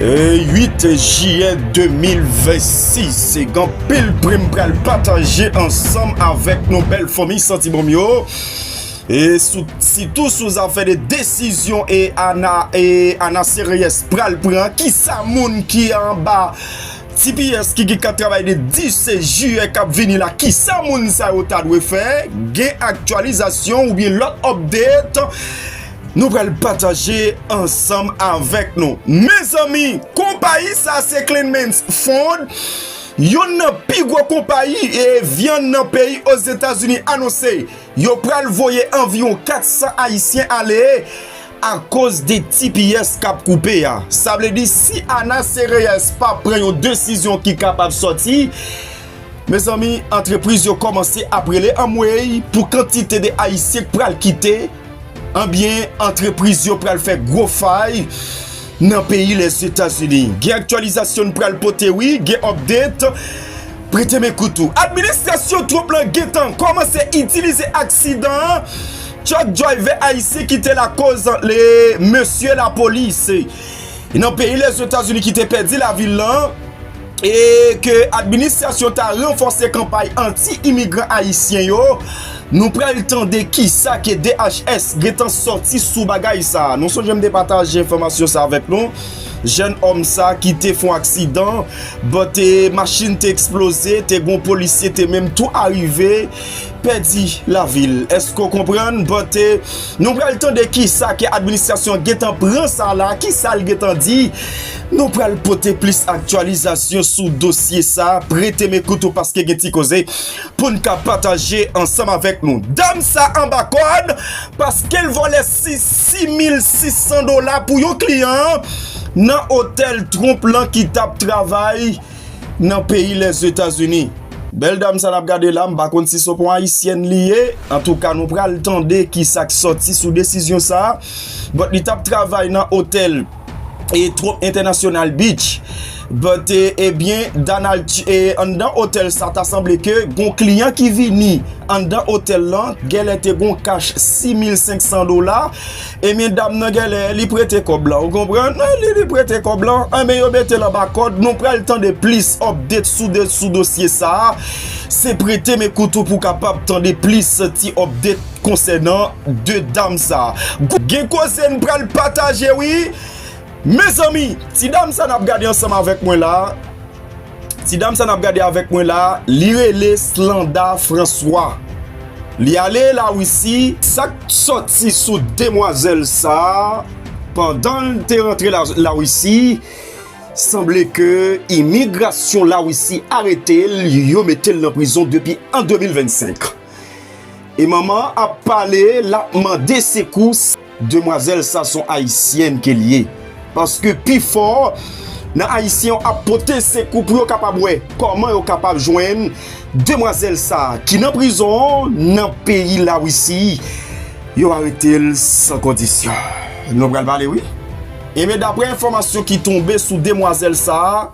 8 jiyè 2026 se gen anpil pri m pral pataje ansanm avèk nou bèl fanmi santi bon m yo e sitou sou zafè de desizyon e ana seryès pral pran ki sa moun ki anba tps ki gen kat travay de 10 jiyè k ap vini la ki sa moun sa yo ta dwe fè gen aktyalizasyon oubyen lòt update. Nou pral pataje ansanm avèk nou. Mezanmi! Konpayi sa a se Kleinmans Foods, youn nan pi gwo konpayi vyann nan peyi Ozetazini anonse yo pral voye anviwon 400 ayisyen ale akoz de tps k ap koupe a. Sa vle di si Ana Sereyès pa pran yon desizyon ki kapab sòti, mezanmi antrepriz yo kòmanse ap rele anmweyy pou kantite de ayisyen k pral kite Anbyen, antrepriz yo pral fè gwo fay nan peyi Lèzetazini. Gen aktyalizasyon n pral pote wi, gen update, prete men kout ou. Administrasyon Trump lan gentan kòmanse itilize aksidan an truck driver ayisyen ki te lakoz le mesye lapolis nan peyi Lèzetazini ki te pèdi lavi l lan. e ke administrasyon ta ranfòse kanpay anti imigran ayisyen yo, nou pral tande kisa ke DHS gentan sòti sou bagay sa. Nou sonje m te pataje enfòmasyon sa avèk nou, jèn òm sa ki te fon aksidan, bon te machin te eksploze, te gon polisye te menm tou arive pèdi lavi l. Eske w konprann? Bon te nou pral tande kisa ke administrasyon gentan pran sa la, kisa l gentan di. Nou pral pote plis aktyalizasyon sou dosye sa a, prete men kout ou paske gen ti koze pou n ka pataje ansanm avèk nou. Dam sa anba kòd paske l vòlè 6600 dola pou yon kliyan an nan otèl Trump lan ki t ap travay nan peyi Lèzetazini. Bèl dam sa n ap gade la, m pa konn si s on pon ayisyèn li ye, antouka nou pral tande ki sa k sòti sou desizyon sa a, bòt li t ap travay nan otèl. e Trump International Beach but ebyen Donald e anndan otèl sa ta sanble ke gon kliyan ki vini anndan otèl lan gèlè te gon kach 6500 dola ebyen dam nan gèlè li prete kòb lan ou konprann li prete kòb lan anben yo metel anba kòd nou pral tande plis update sou de sou dosye sa se prete men kout ou pou kapab tande plis ti update Konsènan 2 dam sa gen koze n pral pataje wi Mezanmi ti dam sa nap gade ansanm avèk mwen la Ti dam sa nap gade avèk mwen la li rele Slanda François Li ale la Russie Sak soti sou demwazèl sa pandan l te rantre la Russie Sanble ke imigrasyon la Russie arete l yo mete l nan prizon depi an 2025. E manman an ap pale lap mande sekous demwazèl sa son ayisyèn ke li ye paske pifò nan ayisyen yo ap pote sekou pou yo kapab wè kòman yo kapab jwenn demwazèl sa ki nan prizon nan peyi lawisi yo aretel san kondisyon nou pral pale wi enben daprè enfòmasyon ki tonbe sou demwazèl sa.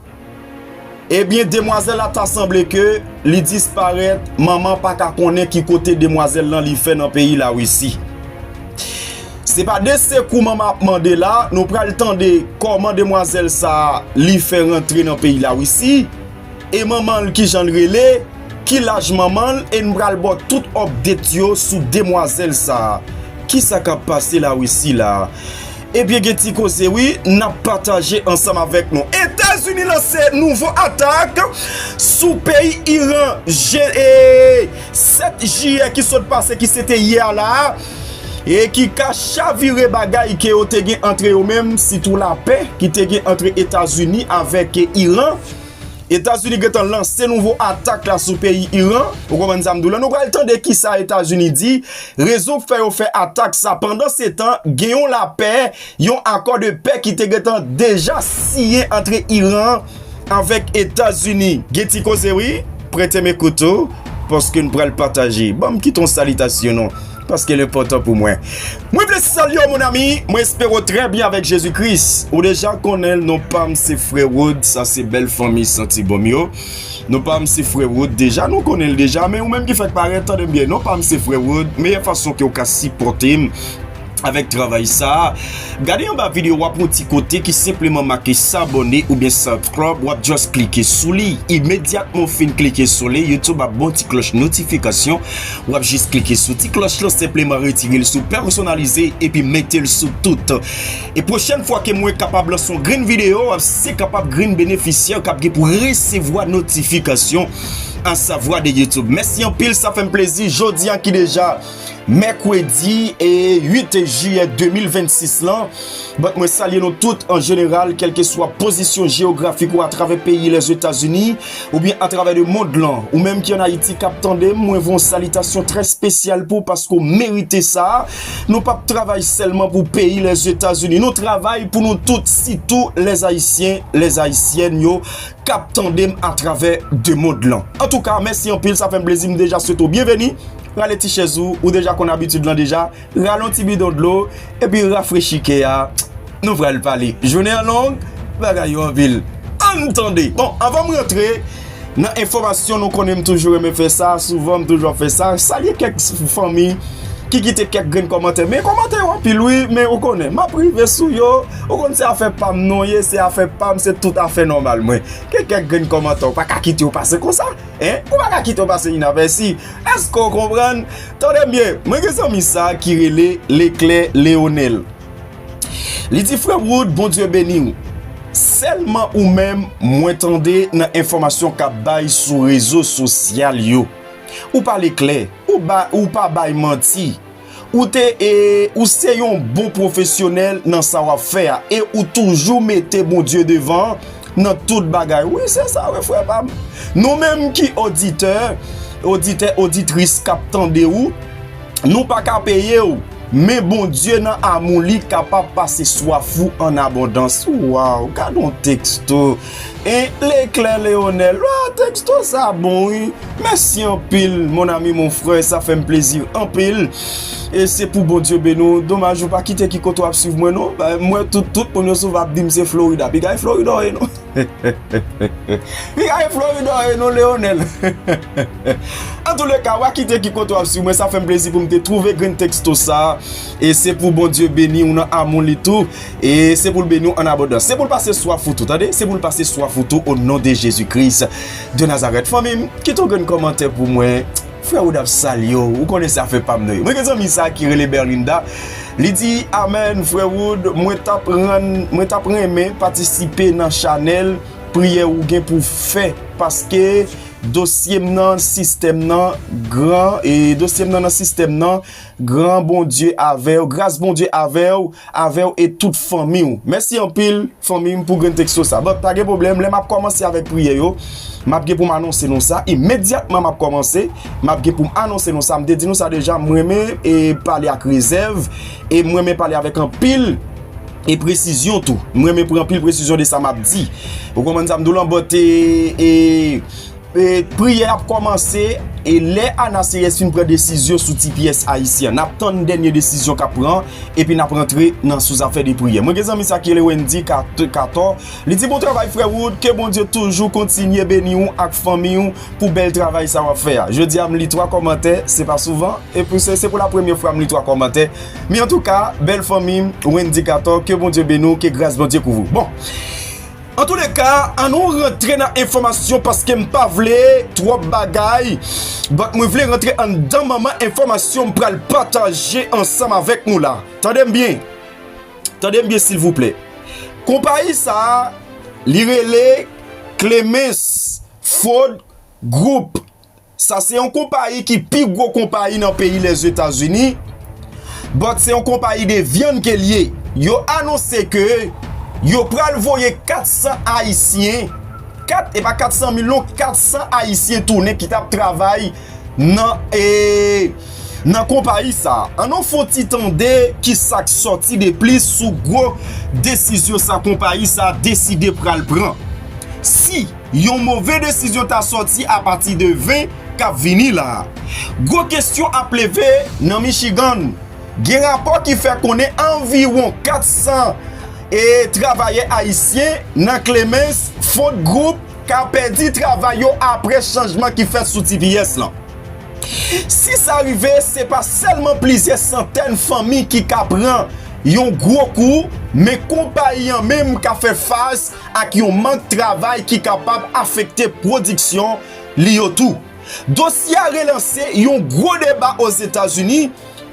Ebyen demwazèl la ta sanble ke li disparèt manman pa ka konnen ki kote demwazèl lan li fè nan peyi la Russie. Se pa de sekou manman ap mande la, nou pral tande kòman demwazèl sa li fè rantre nan peyi la Russie, e manman l ki janl rele, ki laj manman l e n pral baw tout update yo sou demwazèl sa. Kisa kap pase la Russie la? Ebyen gen ti koze wi nap pataje ansanm avèk nou. Etazini lanse nouvo atak sou peyi Iran je 7 jiyè ki sot pase ki se te yè a la a e ki ka chavire bagay ke yo te gen antre yo menm sitou lapè ki te gen antre Etazini avèk Iran. Etazini gentan lanse nouvo atak la sou peyi Iran, ou konprann sa m di w la, nou pral tande kisa Etazini di, rezon k fè yo fè atak sa, pandan se tan gen yon lapè, yon akò de pè ki te gentan deja siyen antre Iran avèk Etazini. Gen ti koze wi, prete m ekout ou, paske n pral pataje. Ban m kite yon salitasyon non. Paske l enpòtan pou mwen. Mwen vle salye w mon ami, mwen espere w trè byen avèk Jezi Kris. Ou deja konnen l, non pa m se frè Rod, sa se bèl fanmi santi bon m yo. Non pa m se frè Rod deja, nou konnen l deja, men ou menm ki fèk parèt, tande m byen, non pa m se frè Rod, meyè fason ke w ka sipòte m avèk travay sa a, gade anba video a pou yon ti kote ki senpleman make sabòne oubyen subscribe, w ap just klike sou li. Imedyatman w fin klike sou li, YouTube ap ba w ti klòch notifikasyon. Wap jis klike sou ti klòch lan senpleman retire l sou pèsonalize epi mete l sou tout. E pwochèn fwa ke mwen kapab lanse yon grenn videyo ap se kapab grenn benefisyè kap gen pou resevwa notifikasyon a savwa de YouTube. Mèsi anpil sa fèm plezi jodi a ki deja Mèkredi e 8 Jiyè 2026 lan. Bat mwen salye nou tout an jeneral kelke swa pozisyon jeyografik ou atravè peyi Lèzetazini. ou byen a travè de mond lan, ou menm ki an Ayiti kap tande m, mwen voun salitasyon trè spesyal pou w paske w merite sa, nou pap travay sèlman pou peyi Lèzetazini, nou travay pou nou tout sitou lè Ayisyen, lè Ayisyèn yo kap tande m a travè de mond lan. Antouka mèsi anpil sa fè m plezi m deja swete w byenveni, rale ti chèz ou, ou deja konn abitid lan deja. Rale yon ti bidon dlo epi rafrechi kè a, nou pral pale. Jounen an long, bagay yo anpil. Ann tande! Bon, anvan m rantre nan enfòmasyon, nou konnen m toujou renmen fè sa, souvan m toujou ap fè sa, salye kèk fanmi ki kite kèk grenn kòmantè. Men kòmantè yo anpil wi, men ou konnen, m ap rive sou yo. Ou konnen se afè pa m nou ye, se afè pa m, se tout afè nòmal mwen. Gen kèk grenn kòmantè ou pa ka kite yo pase konsa. Hein? Ou pa ka kite w pase inapèsi. Èske w konprann? Tande m byen, mwen gen zanmi sa ki rele Leclè Leonel. Li di, Frè Wood, Bondye beni w. Sèlman ou menm mwen tande nan enfòmasyon k ap bay sou rezo sosyal yo. Ou pale klè, ou pa bay manti. Ou te e ou se yon bon pwofesyonèl nan sa wap fè a e ou toujou mete Bondye devan nan tout bagay wi se sa wi frè pam nou menm ki oditè oditè oditris kap tande ou nou pa ka peye ou men Bondye nan amou li kapab pase swaf ou an abondans waw gadon texto. E Leclerc Leonel ah texto sa bon wi mèsi anpil mon ami mon frè sa fèm plezi anpil e se pou Bondye beni w domaj ou pa kite ki kote wap swiv mwen non m wè tout tout moun yo souvan ap dim se Florida piga e Florida w ye non piga e Florida w ye non Leonel antoulèka wa kite ki kote wap swiv mwen sa fèm plezi pou m te twouve grenn texto sa e se pou Bondye beni w nan amou li tou. E se pou l beni w an abondans. Se pou l pase swaf ou tou tande. Se pou l pase swaf ou tou o non de Jezi Kris de Nazarèt. Fanmi m, kite yon grenn kòmantè pou mwen. Frè Wood ap salye w. Ou konnen se afè pa m nan ye. Mwen gen zanmi sa ki rele Berlinda. Li di, Amen, Frè Wood, mwen t ap rann, mwen t ap renmen patisipe nan chanèl priyè ou gen pou w fè paske dosye m nan sistèm nan gran e dosye m nan nan sistèm nan Gran Bondye avèw, gras Bondye avèw, avèw e tout fanmiw. Mèsi anpil fanmim pou grenn texto sa. But pa gen pwoblèm, lè map kòmanse avèk priyè yo, map gen poum anonse nou sa, imedyatman map kòmanse, map gen poum anonse nou sa, m te di nou sa deja, m renmen e pale ak rezèv e m renmen pale avèk anpil e presizyon tou. M renmen pran anpil presizyon de sa map di. Ou konprann sa m diw lan but e. Priyè ap kòmanse e lè Ana Seyès fin pran desizyon sou ti pyès Ayisyen an. N ap tann dènye desizyon k ap pran epi n ap rantre nan sou zafè de priyè. Mwen gen zanmi sa ki rele Wendy Cator. Li di bon travay frè Wood, ke Bondye toujou kontinye beni ou ak fanmiy ou pou bèl travay sa w ap fè a. Jodi a m li 3 kòmantè, se pa souvan, epi se pou la premye fwa m li 3 kòmantè. Men antouka, bèl fanmi m, Wendy Cator, ke Bondye beni w, ke gras Bondye kouvri w. Bon! Antoulèka an nou rantre nan enfòmasyon paske m pa vle twòp bagay but mwen vle rantre anndan manman enfòmasyon m pral pataje ansanm avèk nou la. Tande m byen, tande m byen silvouplè. Konpayi sa a li rele Clemens Food Group. Sa se yon konpayi ki pi gwo konpayi nan peyi Lèzetazini, but se yon konpayi de vyann ke l ye. Yo anonse ke yo pral voye 400 Ayisyen, 4 e pa 400 mil non, 400 Ayisyen tounen ki tap travay nan e nan konpayi sa. An nou fon ti tande ki sak sòti de plis sou gwo desizyon sa konpayi sa deside pral pran. Si. Yon move desizyon ta sòti apati de 20 k ap vini la a. Gwo kesyon ap leve nan Michigan. Gen rapò ki fè konnen anviwon 400 e travayè ayisyen nan Clemens Font Group ka pèdi travay yo apre chanjman ki fèt sou tps lan. Si sa rive, se pa sèlman plizyè santèn fanmi ki ka pran yon gwo kou, men konpayi an menm ka fè fas ak yon mank travay ki kapab afekte pwodiksyon li yo tou. Dosye a relanse yon gwo deba Ozetazini,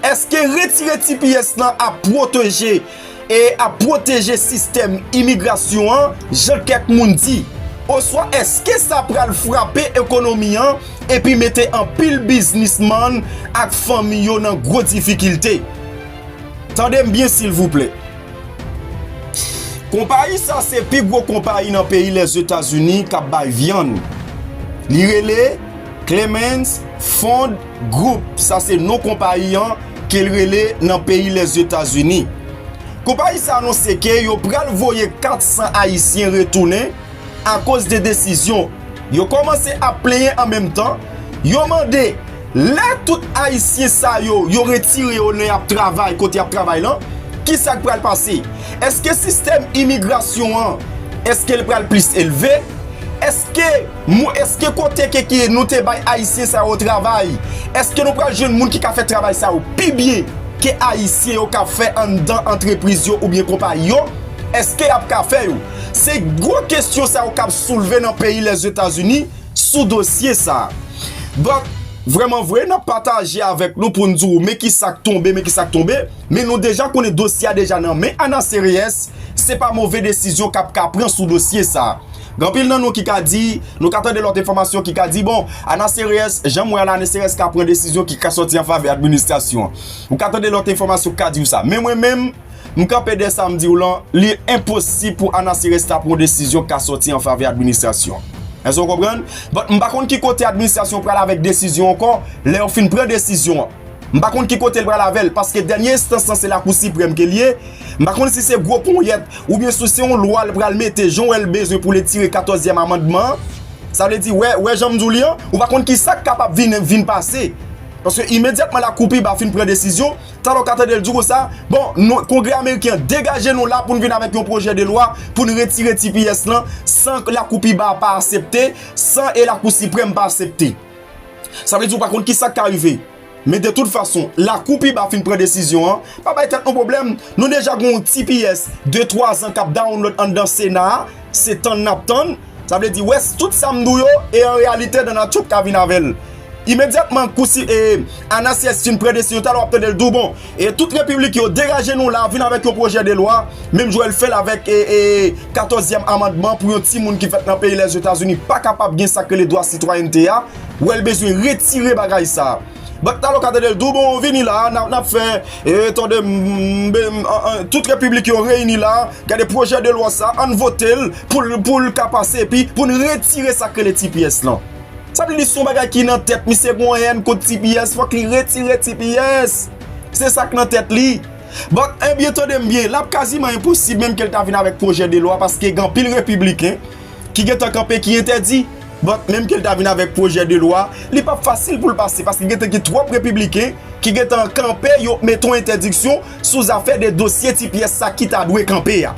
èske retire tps lan ap pwoteje e ap pwoteje sistèm imigrasyon an jan kèk moun di? Oswa èske sa pral frape ekonomi an epi mete anpil biznismann ak fanmi yo nan gwo difikilte? Tande m byen silvouplè. Konpayi sa se pi gwo konpayi nan peyi Lèzetazini k ap bay vyann. Li rele Clemens Foods Group, sa se non konpayi an ke l rele nan peyi Lèzetazini. Konpayi sa anonse ke yo pral voye 400 Ayisyen retounen akoz de desizyon. Yo komanse ap plenyen an menm tan, yo mande lè tout ayisyen sa yo, yo retire yo lè yap travay kote yap travay lan, kisa k pral pase? Eske sistèm imigrasyon an, eske l pral plis elve? Eske mou, eske kote ke ke nou te bay ayisyen sa yo travay, eske nou pral jwenn moun ki ka fè travay sa yo pi byen ke ayisyen yo kap fè anndan antrepriz yo oubyen konpayi yo? Eske yap ka fè yo? Se gwo kestyon sa yo kap soulve nan peyi Lèzetazini sou dosye sa. Donk, vreman vre, nap pataje avèk nou pou n di w men ki sa k tonbe, men ki sa k tonbe. Men nou deja konnen dosye a deja nan men Ana Series, se pa move desizyon kap ka pran sou dosye sa. Gen anpil nan nou ki ka di, nou ka tande lòt enfòmasyon ki ka di, bon, Ana Series, jan m wè a la, Ana Series ka pran desizyon ki ka sòti an favè administrasyon an. Ou ka tande lòt enfòmasyon ki ka di w sa. Men mwen menm. M kanpe dè sa m di w lan, li enposib pou Anaseres la pran yon desizyon k ka sòti an favè administrasyon an. Èske w konprann? But, m pa konn ki kote administrasyon an pral avèk desizyon an ankò, lè yo fin pran desizyon an. M pa konn ki kote l pral avè l, paske dènye enstans lan se Lakou Siprèm ke l ye. M pa konn si se gwo ponyèt, oubyen si se yon lwa l pral mete jan w wè l bezwen pou l etire katòzyèm amandman an. Sa vle di, wè, wè jan m di w li an, ou pa konn ki sa k kapab vin, vin pase. Paske imedyatman Lakou pi ba fin pran desizyon, Talè w ka tande l di konsa, bon, nou, Kongrè ameriken an, degaje nou la pou n vin avèk yon pwojè de lwa pou n retire tps lan san Lakou pi ba a pa asepte, san e Lakou Siprèm pa asepte. Sa vle di ou pa konn ki sa k ka rive. Men de tout fason, Lakou pi ba fin pran desizyon an, pa bay tèt nou pwoblèm. Nou deja gen yon tps de twazan k ap dawonlòd anndan Sena a, se tann n ap tann. Sa vle di wes tout sam dou yo e an reyalite Dana tchuup ka vin avel imedyatman kou si e Anasyèz fin pran desizyon talè wap tandel dou bon e tout repiblik yo degaje nou la vin avek yon pwojè de lwa menm jan yo fel avek e e 14 zyèm amandman pou yon ti moun ki fet nan peyi lèzetazini pa kapab gen sak rele dwa sitwayènte a wèl bezwen retire bagay sa. Bat talo ka tedel dou bon vini la nap fè tande tout republik yo reyini la gade projè de lwa sa an votel pou l ka pase epi pou n retire sak rele tps lan sa vle di son bagay ki nan tèt misye gon hèn kont tps fòk li retire tps se sak nan tèt li bat ebyen tande m byen lap kaziman enposib menm ke l ta vin avèk projè de lwa paske gen anpil republiken ki gen tan kanpe ki entèdi. Donk, menm ke l ta vin avèk pwojè de lwa, li pap fasil pou l pase paske gen tan gen twòp repibliken ki gen tan kanpe yo mete yon entèdiksyon sou zafè de dosye ti pyès sa ki ta dwe kanpe a.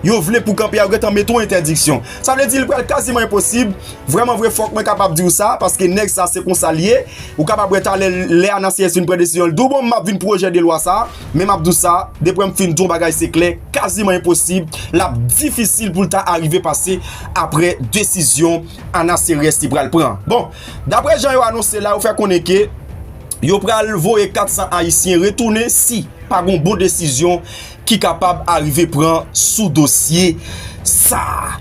Yo vle pou kanpe a, yo gen tan mete yon entèdiksyon. Sa vle di li pral kaziman enposib. Vrèman vre, fòk mwen kapab di w sa paske nèg sa se konsa l ye. Ou kapab wè talè lè ANACS vin pran desizyon l di w bon m ap vin pwojè de lwa sa. Men m ap di w sa, deprè m fin di w yon bagay se klè, kaziman enposib, l ap difisil pou l ta arive pase aprè desizyon Ana Serres te pral pran. Bon, daprè jan yo anonse la, yo fè konnen ke yo pral voye 400 ayisyen retounen si pa gon bon desizyon ki kapab arive pran sou dosye sa a.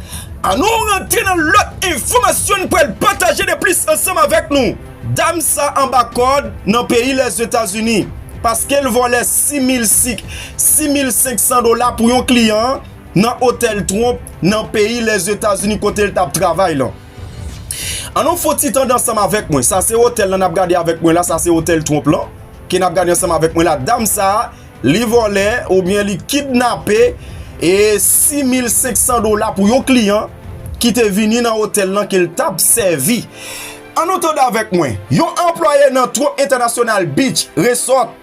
An nou rantre nan lòt enfòmasyon n pral pataje de plis ansanm avèk nou. Dam sa anba kòd nan peyi Lèzetazini paske l vòlè 6500 dola pou yon kliyan nan otèl Trump nan peyi Lèzetazini kote l t ap travay lan. An nou fon ti tande ansanm avèk mwen. Sa se otèl lan n ap gade avèk mwen la, sa se otèl Trump lan ke n ap gade ansanm avèk mwen la. Dam sa li vòlè oubyen li kidnape 6500 dola pou yon kliyan ki te vini nan otèl lan ke l t ap sèvi. An nou tande avèk mwen. Yon anplwaye nan Trop International Beach Resort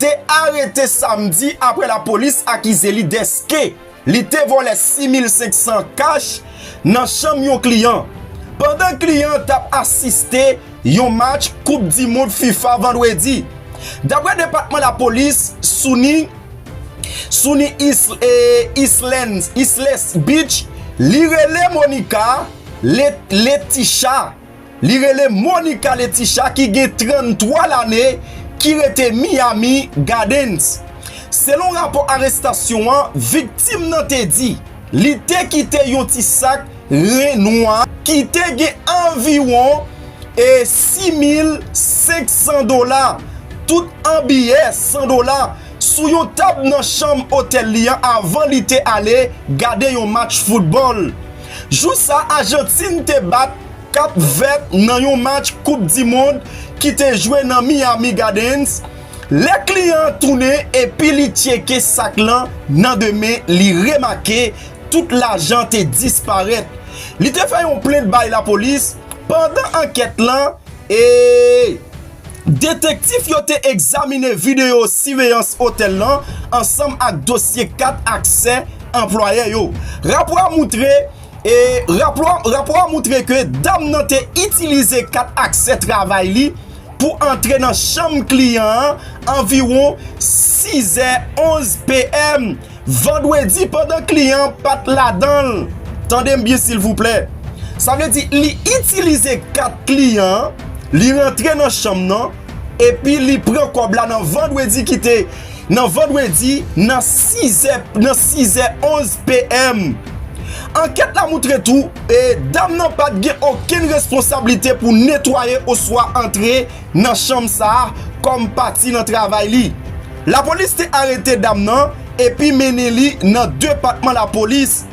te arete samdi apre lapolis akize li deske li te vòlè 6,500 kach nan chanm yon kliyan, pandan kliyan an t ap asiste yon match koup di mond fifa vandredi. Dapre depatman lapolis Sunny Isles Beach, li rele Monica. Le Leticha, li rele Monica Leticha ki gen 33 lane ki rete Miami Gardens. Selon rapò arestasyon an, viktim nan te di li te kite yon ti sak ren nwa ki te gen anviwon 6,500 dola, tout an biyè 100 dola, sou yon tab nan chanm otèl li an avan li te ale gade yon match foutbòl. Jou sa Ajantin te bat Kap Vèt nan yon match koup di mond ki te jwe nan Miami Gardens, lè kliyan an tounen epi li tcheke sak lan nan de men li remake tout lajan te disparèt. Li te fè yon plent bay lapolis pandan ankèt lan e. Detektif yo te egzamine videyo siveyans otèl lan ansanm ak dosye kat aksè anplwayè yo. Rapò a moutre Rapò a moutre ke dam nan te itilize kat aksè travay li pou antre nan chanm kliyan an anviwon 6 è 11 PM. Vandredi pandan kliyan an pat ladan l, tande m byen silvouplè, sa vle di li itilize kat kliyan an, li rantre nan chanm nan epi li pran kòb la nan vandredi ki te nan vandredi nan 6 è nan 6 è 11 PM. Ankèt la moutre tou e dam nan pat gen okenn responsablite pou netwaye oswa antre nan chanm sa a kòm pati nan travay li. Lapolis te arete dam nan epi mennen li nan depatman lapolis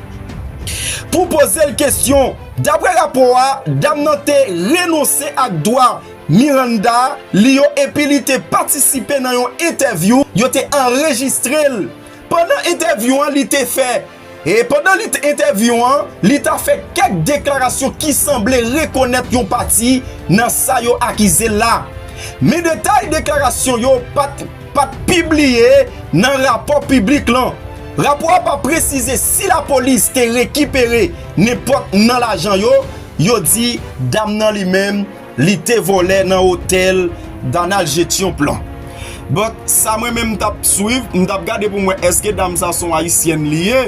pou poze l kesyon. Daprè rapò a, dam nan te renonse ak dwa Miranda li yo epi li te patisipe nan yon entèvyou yo te anrejistre l. Pandan entèvyou an li te fè. E pandan li t entèvyou an, li ta fè kèk deklarasyon ki sanble rekonèt yon pati nan sa yo akize l la. Men detay deklarasyon yo pat pat pibliye nan rapò piblik lan. Rapò a pa presize si lapolis te rekipere nenpòt nan lajan yo, yo di dam nan li menm. Li te vole nan hotel Danal Jetion plan. But sa mwen menm tap swiv, m tap gade pou m wè eske dam sa son ayisyèn li ye.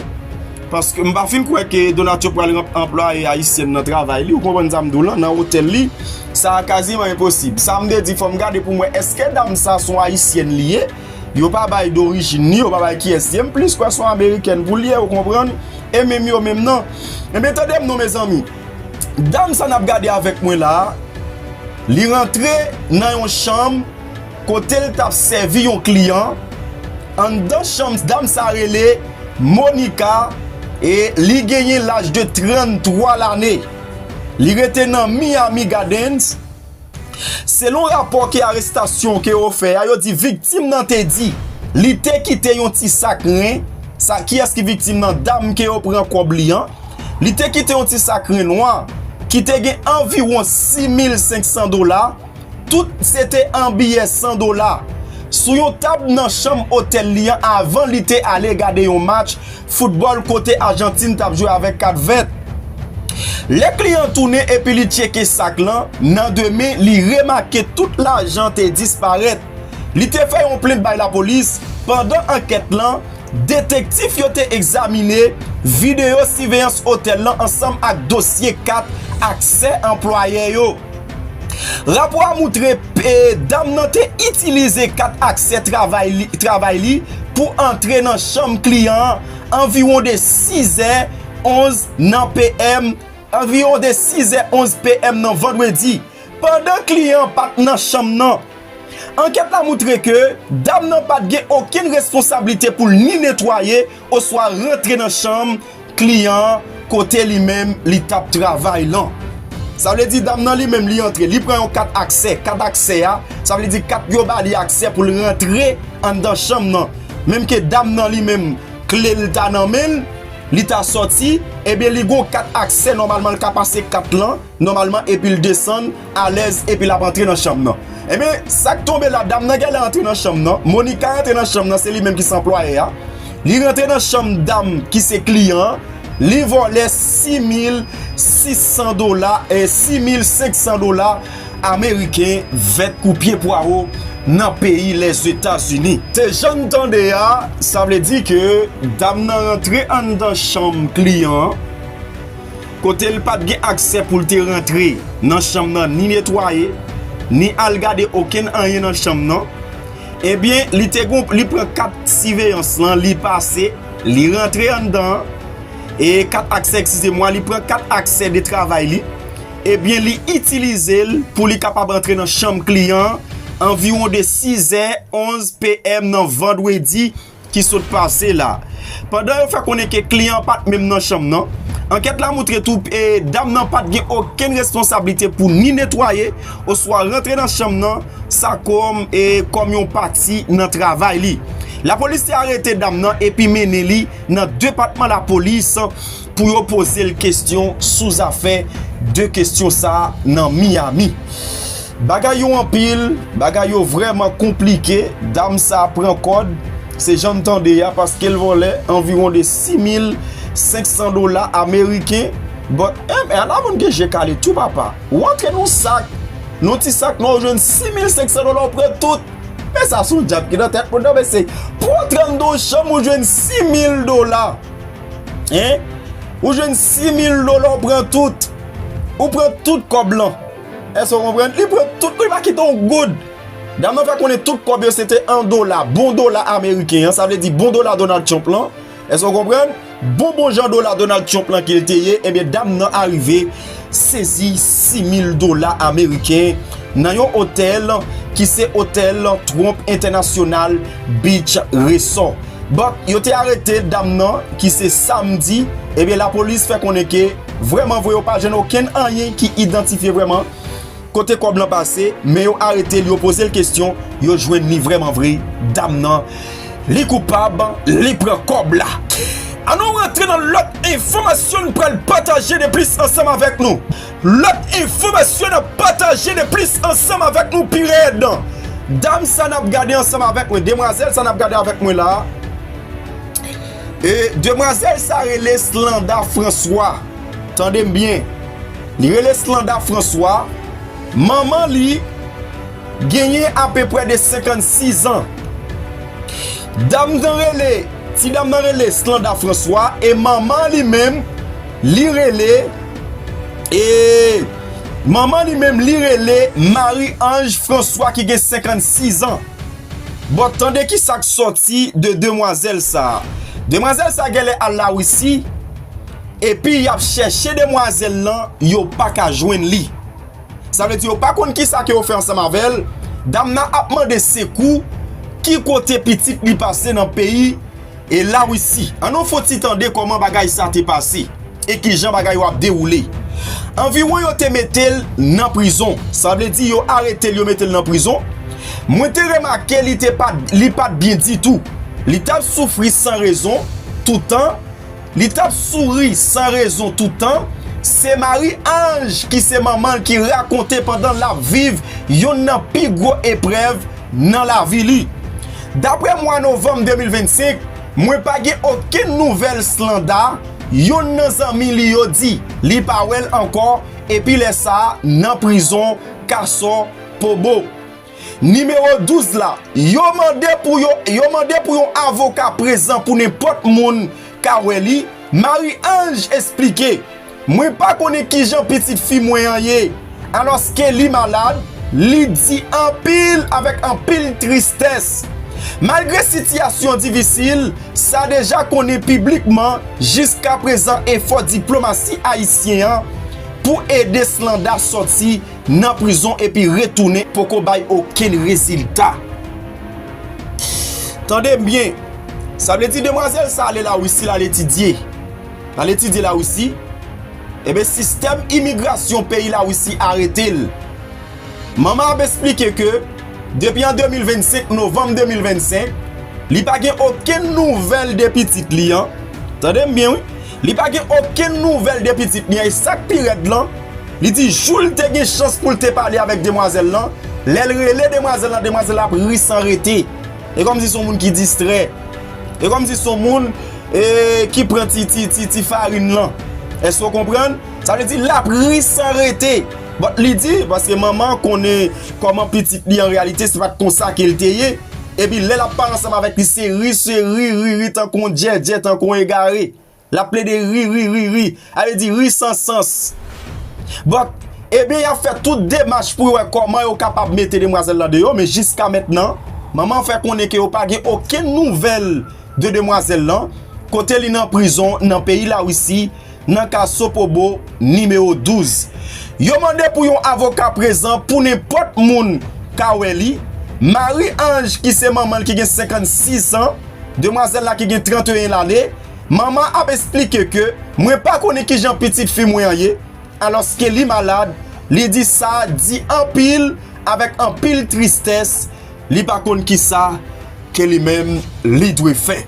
Paske m pa fin kwè ke Donatio pral anplwaye ayisyèn nan travay li, ou konprann sa m di w lan, nan hotel li. Sa a kaziman enposib. Sa m te di fò m gade pou m wè eske dam sa son ayisyèn li ye. Yo pa bay dorijin ni, yo pa bay kiyès li ye. M plis kwè son amerikèn pou li ye, ou konprann. E menm yo menm nan. Ebyen tande m non mezanmi. Dam sa nap gade avèk mwen la Li rantre nan yon chanm Kote l tap sèvi yon kliyan Anndan chanm dam sa rele Monica E li genyen laj de 33 lane Li rete nan Miami Gardens Selon rapò ke arestasyon ke yo fè a, yo di viktim nan te di li te kite yon ti sak ren, sa kiyès ki viktim nan dam ke yo pran kòb li an, li te kite yon ti sak ren nwa ki te gen anviwon 6500 dola, tout se te an biyè 100 dola, sou yon tab nan chanm otèl li an avan li te ale gade yon match Foutbòl kote Ajantin t ap jwe avèk kat vèt. Lè kliyan tounen epi li tcheke sak lan, nan de men li remake tout lajan te disparèt. Li te fè yon plent bay lapolis. Pandan ankèt lan, detektif yo te egzamine videyo siveyans otèl lan ansanm ak dosye kat aksè anplwayè yo. Rapò a moutre dam nan te itilize kat aksè travay li pou antre nan chanm kliyan an anviwon de 6 è 11 nan PM anviwon de 6 è 11 PM nan vandredi pandan kliyan an pat nan chanm nan. Ankèt la moutre ke dam nan pat gen okenn responsablite pou l ni netwaye Oswa rantre nan chanm kliyan an kote li menm li t ap travay lan. Sa vle di dam nan li menm li antre, li pran yon kat aksè. Kat aksè a, sa vle di kat yo ba li aksè pou l rantre anndan chanm nan. Menm ke dam nan li menm kle l ta nan men l, li ta sòti, ebyen li gen yon kat aksè nòmalman l ka pase kat lan nòmalman epi l desann. alèz epi lap antre nan chanm nan enben sak tonbe la dam nan genlè antre nan chanm nan Monica rantre nan chanm nan se li menm ki se anplwaye a li rantre nan chanm dam ki se kliyan an li vòlè 6600 dola e 6500 dola ameriken vèt kou pye pwawo nan peyi lèzetazini. Se janm tande a sa vle di ke dam nan rantre anndan chanm kliyan an. kote l pa t gen aksè pou l te rantre nan chanm nan ni netwaye, ni al gade okenn anyen nan chanm nan, ebyen li te gen yon, li pran kat siveyans lan, li pase, li rantre anndan an, e kat aksè, ekskizemwa, li pran kat aksè de travay li, ebyen li itilize l pou li kapab antre nan chanm kliyan an anviwon de 6 è 11 PM nan vandredi. ki sot pase la. Pandan yo fè konnen ke kliyan an pat menm nan chanm nan, ankèt la moutre tou dam nan pat gen okenn responsablite pou ni netwaye oswa rantre nan chanm nan sa kòm kòm yon pati nan travay li. Lapolis te arete dam nan epi mennen li nan depatman lapolis. pou yo poze l kestyon sou zafè 2 kestyon sa nan Miami. Bagay yo anpil, bagay yo vrèman konplike, dam sa pran kòd, se jan n tande a paske l vòlè anviwon de 6 mil 500 dola ameriken, but eh men ala moun gen je kale tou papa, ou antre n on sak, n on ti sak nwa ou jwenn 6 mil 500 dola ou pran tout, men sa son djab ki nan tèt moun nan mesye, pou w antre anndan on chanm ou jwenn 6 mil dola. Hein? Ou jwenn 6000 dola ou pran tout. Ou pran tout kòb lan. Èske ou konprann? Li pran tout, li pa kite yon goud. Dam nan fè konnen tout kòb yo se te an dola, bon dola ameriken an, sa vle di bon dola Donald Trump lan. Èske ou konprann? Bon bon jan dola Donald Trump lan ke li te ye, ebyen dam nan arive. Sezi 6 mil dola ameriken nan yon otèl ki se otèl Trump International Beach Resort. Bon, yo te arete dam nan ki se samdi, ebyen lapolis fè konnen ke vrèman vre yo pa jwenn okenn anyen ki idantifye vrèman. Kote kob lan pase men yo aretel yo pozel kesyon yo jwenn li vreman vre dam nan li koupab li pran kob la an nou rantre nan lot enfomasyon n pral pataje de plis ansanm avek nou lot enfomasyon nap pataje de plis ansanm avek nou pi red dam sa nap gade ansanm avek mwen demwazel sa nap gade avek mwen la demwazel sa rele slanda franswa. Tande m byen, li rele Slanda Franswa, manman li genyen apeprè de 56 an. Dam nan rele, ti dam nan rele Slanda Franswa e manman li menm li rele, e, manman li menm li rele Mari Anj Franswa ki gen 56 an. Bon, tande ki sa k sòti de demwazèl sa a. Demwazèl sa a genlè al Lawisi. Epi yap chèche demwazèl lan yo paka jwenn li sa vle di yo pa konn kisa ke yo fè ansanm avèl dam nan ap mande sekou ki kote pitit li pase nan peyi e la russi an nou fout ti tande kòman bagay sa te pase e kijan bagay yo ap dewoule anviwon yo te metel nan prizon sa vle di yo aretel yo metel nan prizon mwen te remake li te pat li pat byen ditou li tap soufri san rezon toutan. Li tap souri san rezon toutan, se Marie Ange ki se manman l ki rakonte pandan lap viv yonn nan pi gwo eprèv nan lavi li. Daprè mwa novanm 2025, mwen pa gen okenn nouvèl Slanda, yonn nan zanmi li yo di. Li pa wè l ankò epi lè sa a nan prizon Kaso Pobo. Nimewo 12 la, Yo mande pou yo Yo mande pou yon avoka prezan pou nenpòt moun ka wè li, Marie-Ange esplike, Mwen pa konnen kijan pitit fi mwen an ye, alòske li malad, li di anpil avèk anpil tristès. Malgre sitiyasyon difisil sa deja konnen piblikman jiskaprezan efò diplomasi ayisyen an pou ede Slanda sòti Nan prizon epi retounen poko bay okenn rezilta. Tande m byen, sa vle di demwazèl sa ale Lawisi l al etidye. L al etidye Lawisi, enben sistèm imigrasyon peyi Lawisi arete l. Manman ap esplike ke depi an 2025, novanm 2025, li pa gen okenn nouvèl de pitit li an. Tande m byen wi. Li pa gen okenn nouvèl de pitit li an e sak pi rèd lan, li di joul te gen chans poul te pale avèk demwazèl lan, lèl rele demwazèl lan demwazèl lan ap ri san rete e kòmsi son moun ki distrè e kòmsi son moun ki pran ti farin lan èske ou konprann sa vle di lap ri san rete but li di paske manman konnen kòman pitit li an reyalite se pat konsa kel te ye. Epi lè l ap pale ansanm avèk li se ri se ri, ri ri tankou yon djèdjè, tankou yon egare. L ap plede ri, ri ri, ri. A vle di ri san sans. But, ebyen y ap fè tout demach pou yo wè kòman yo kapab mete demwazèl lan deyò men jiska mentnan manman an fè konnen ke yo pa gen okenn nouvèl de demwazèl lan kote li nan prizon nan peyi Larisi nan ka Sopobo nimewo 12. Yo mande pou yon avoka prezan pou nenpòt moun ka wè li. Marie Ange ki se manman l ki gen 56 an, demwazèl la ki gen 31 lane, manman an ap esplike ke mwen pa konnen kijan pitit fi mwen an ye alòske li malad, li di sa di anpil avèk anpil tristès Li pa konn ki sa ke li menm li dwe fè.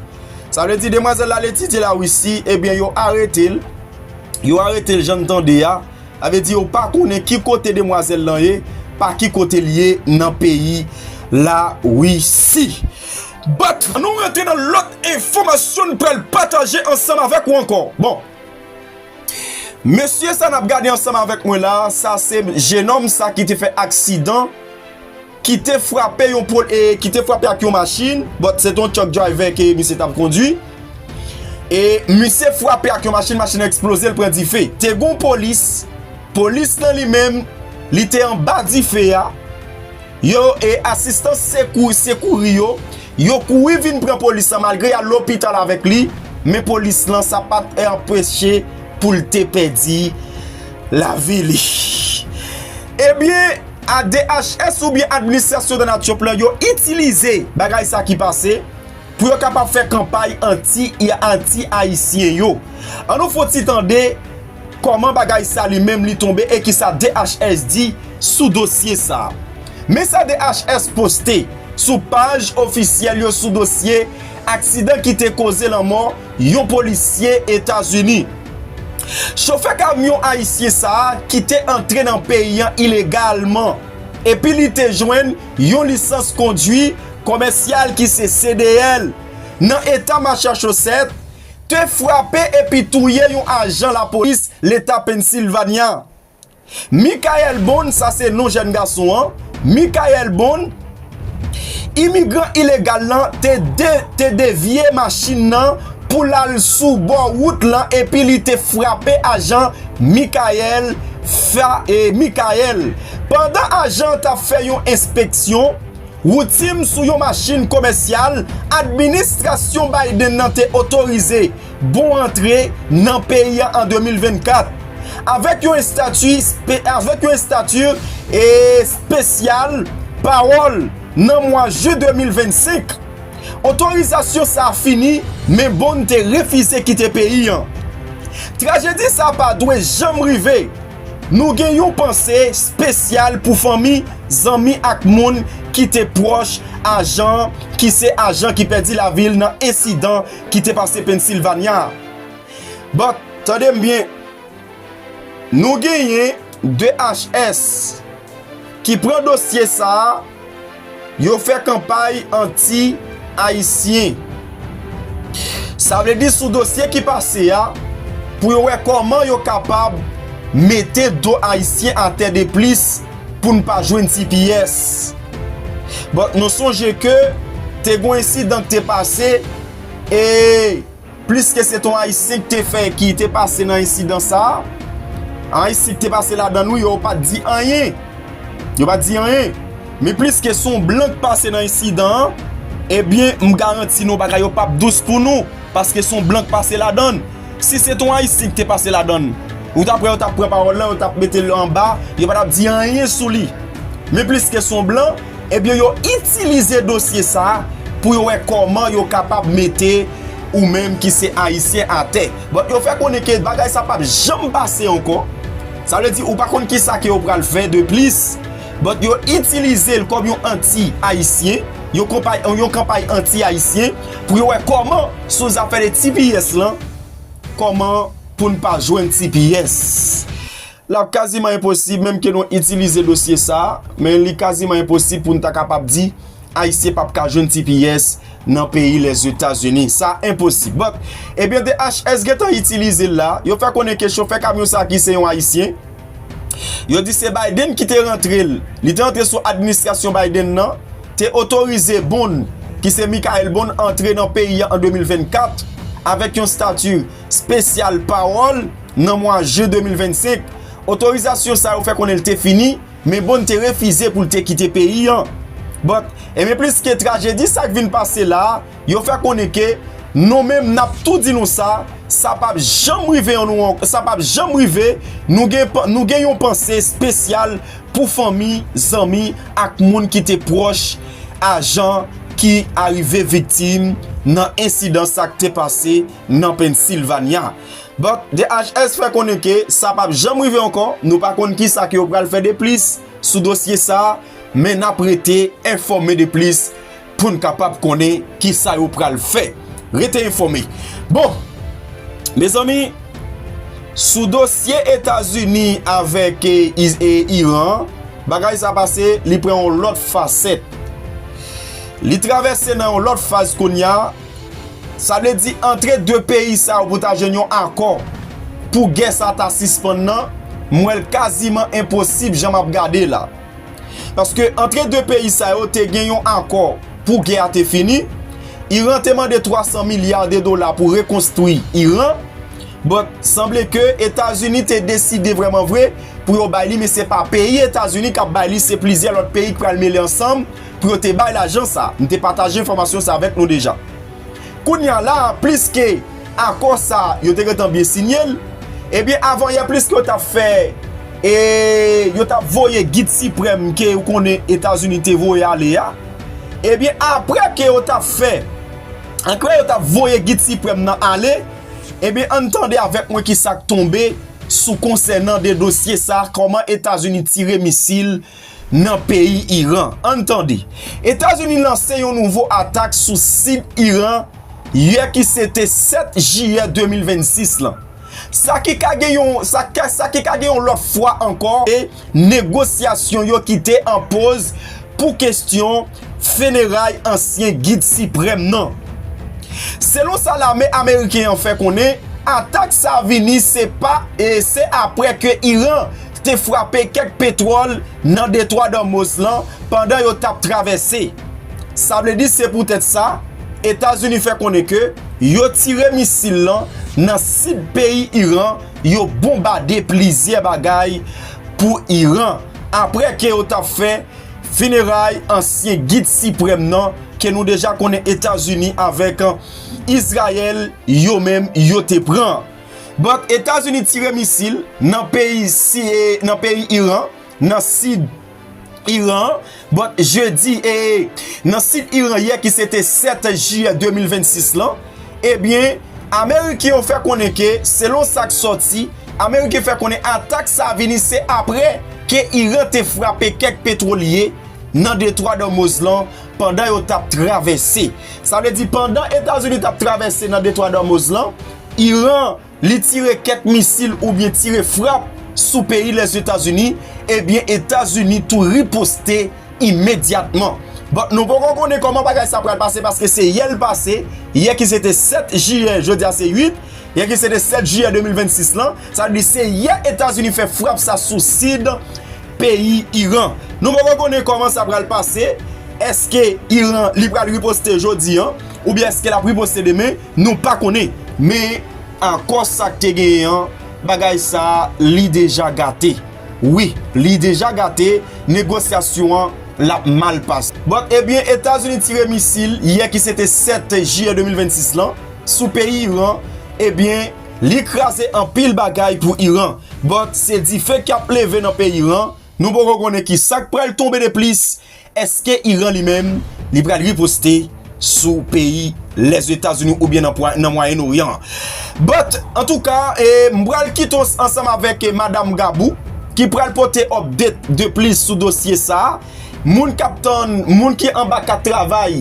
Sa vle di demwazèl la al etidye la Wisi, ebyen yo arete l, yo arete l jan n tande a, sa vle di yo pa konnen ki kote demwazèl lan ye, pa ki kote li ye nan peyi la Wisi. But, an nou rantre nan lòt enfòmasyon n pral pataje ansanm avèk ou ankò. Bon, mesye sa n ap gade ansanm avèk mwen la, sa se jenòm sa ki te fè aksidan. ki te frape yon pol e ki te frape ak yon machin but se te yon truck driver ke misye tap kondwi e misye frape ak yon machin, machin nan eksploze li pran dife, te gon polis polis nan li menm li te anba dife a yo e asistan sekou sekouri yo, yo kouri vin pran polis la malgre yal lopital avèk li men polis lan sa pat anpeche poul te pèdi lavi li ebyen. ADHS oubyen Administration dans Nature Plan yo itilize bagay sa ki pase pou yo kapab fè kanpay anti anti ayisyen yo an nou fon ti tande kòman bagay sa li menm li tonbe e ki sa DHS di sou dosye sa men sa DHS poste sou paj ofisyèl yo sou dosye aksidan ki te koze lanmò yon polisye Etazini. Chofè kamyon ayisyen sa a ki te antre nan peyi an ilegalman epi li te jwenn yon lisans kondwi komèsyal ki se CDL nan eta Machachosèt te frape epi touye yon ajan lapolis leta Pennsilvanya. Michael Bond, sa se non jèn gason an, Michael Bond, imigran ilegal lan te devye machin nan pou l al sou bò wout lan epi li te frape ajan Michael Michael pandan ajan an t ap fè yon enspeksyon woutim sou yon machin komèsyal administrasyon Biden nan te otorize Bon antre nan peyi an 2024! Avèk yon estati espesyal pawòl nan mwa jen 2025, otorizasyon sa a fini men Bond te refize kite peyi an. Trajedi sa pa dwe janm rive! Nou gen yon panse spesyal pou fanmi, zanmi ak moun ki te pwòch ajan an ki se ajan ki pèdi lavi l nan ensidan ki te pase Pennsylvania a. But, tande m byen, nou genyen DHS ki pran dosye sa a, yo fè kanpay anti Ayisyen. Sa vle di sou dosye ki pase a, pou yo wè kòman yo kapab mete do Ayisyen atè de plis, pou n pa jwenn tps. But nou sonje ke te gon ensidan ki te pase e plis ke se te yon ayisyen ki te fè ki te pase nan ensidan sa a, ayisyen ki te pase ladan nou yo pat di anyen. Yo pat di anyen. Men plis ke se yon blan ki pase nan ensidan an, ebyen m garanti nou bagay yo pap dous pou nou paske se yon blan ki pase ladan. Si se te yon ayisyen ki te pase ladann ou ta p wè yo tap pran pawòl lan yo tap metel anba yo pa tap di anyen sou li men pliske son blan ebyen yo itilize dosye sa pou yo wè kòman yo kapab mete ou menm ki se ayisyen atè bon yo fè konnen ke bagay sa pap janm pase ankò sa vle di ou pa konn kisa ke yo pral fè de plis bon yo itilizel kòm yon anti ayisyen yon konpay yon kanpay anti ayisyen pou yo wè kòman. Sou zafè de tps lan, kòman pou n pa jwenn tps? L ap kaziman enposib menm ke nou itilize dosye sa a, men li kaziman enposib pou n ta kapab di Ayisyen p ap ka jwenn tps nan peyi Lèzetazini. Sa enposib. But, ebyen DHS gen tan itilize l la, yo fè konnen ke chofè kamyon sa a ki se yon Ayisyen, yo di se Biden ki te rantre l, li te antre sou administrasyon Biden nan, te otorize Bond, ki se Mickael Bond antre nan peyi a an 2024 avèk yon stati spesyal pawòl nan mwa jen 2025. Otorizasyon sa yo fè konnen li te fini, men Bond te refize pou li te kite peyi an. But, enben pliske trajedi sa k vin pase la a, Yo fè konnen ke Nou menm nap tou di nou sa, sa pap janm rive an nou sa pap janm rive, nou gen nou gen yon panse spesyal pou fanmi, zanmi ak moun ki te pwòch ajan ki arive viktim nan ensidan sa k te pase nan Pennsilvanya. But DHS fè konnen ke sa pap janm rive ankò, nou pa konn ki sa ke yo pral fè de plis sou dosye sa, men nap rete enfòme de plis. pou n kapab konnen ki sa yo pral fè. Rete enfòme. Bon, mezanmi, sou dosye Etazini avèk e Iran, bagay sa pase, li pran yon lòt fasèt. Li travèse nan yon lòt faz kounya, sa vle di antre 2 peyi sa yo pou ta jwenn yon akò pou gè sa ta sispann nan, m wè l kaziman enposib jan m ap gade la. Paske antre 2 peyi sa yo te gen yon akò pou gè a te fini, Iran te mande 300 milya de dola pou rekonstwi Iran, but sanble ke Etazini te deside vreman vre pou yo bay li men se pa peyi Etazini kap bay li se plizyè lòt peyi ki pral mele ansanm pou yo te bay lajan sa, m te pataje enfòmasyon sa avèk nou deja. Kounya la a pliske akò sa a yo te gentan byen sinye l, ebyen avanyè pliske yo t ap fè e yo t ap voye Gid Siprèm ke ou konnen Etazini te voye ale a, ebyen apre ke yo t ap fè, apre yo t ap voye Gid Siprèm nan ale, ebyen ann tande avèk mwen kisa k tonbe sou konsènan de dosye sa a kòman Etazini tire misil nan peyi Iran. Ann tande. Etazini lanse yon nouvo atak sou sid Iran yè ki se te 7 jiyè 2026 lan. Sa ki ka gen yon, sa sa ki ka gen yon lòt fwa ankò e negosyasyon yo ki te an poz pou kestyon feneray ansyen gid siprèm nan. Selon sa lame ameriken an fè konnen, atak sa vini se pa e se aprè ke Iran te frape kèk petwòl nan detwa Dòmoz lan pandan yo t ap travèse. Sa vle di se poutèt sa, Etazini fè konnen ke yo tire misil lan nan sid peyi Iran, yo bonbade plizyè bagay pou Iran apre ke yo t ap fè fineray ansyen Gid Siprèm nan ke nou deja konnen Etazini avèk Izrayèl yo menm yo te pran. Donk Etazini tire misil nan peyi nan peyi Iran nan sid Iran an bon jedi e nan sid Iran yè ki se te 7 jiyè 2026 lan ebyen eh ameriken yo fè konnen ke selon sa k sòti ameriken fè konnen atak sa vini se apre ke Iran te frape kèk petwolye nan detwa Dòmoz lan pandan yo t ap travèse sa vle di pandan Etazini t ap travèse nan detwa Dòmoz lan. Iran li tire kèk misil oubyen tire frap sou peyi Lèzetazini, ebyen Etazini tou riposte imedyatman. Bon, nou poko konnen kòman bagay sa pral pase paske se yè l pase, yè ki se te 7 jiyè, jodi a se 8, yè ki se te 7 jiyè 2026 lan, sa vle di se yè Etazini fè frap sa sou sid peyi Iran. Nou poko konnen kòman sa pral pase, èske Iran li pral riposte jodi an, oubyen èske l ap riposte demen. Nou pa konnen, men akò sa k te genyen an, bagay sa a li deja gate. Wi, li deja gate, negosyasyon an l ap mal pase. Bon, ebyen Etazini tire misil yè ki se te 7 jiyè 2026 lan sou peyi Iran, ebyen li kraze anpil bagay pou Iran. Bon, se dife k ap leve nan peyi Iran, nou poko konnen ki sa k pral tonbe de plis, Eske Iran li menm li pral riposte sou peyi Lèzetazini ou byen nan Mwayen Oryan an? But, antouka, m pral kite w ansanm avèk Madam Gabou ki pral pote update de plis sou dosye sa a. Moun k ap tann, moun ki anba kat travay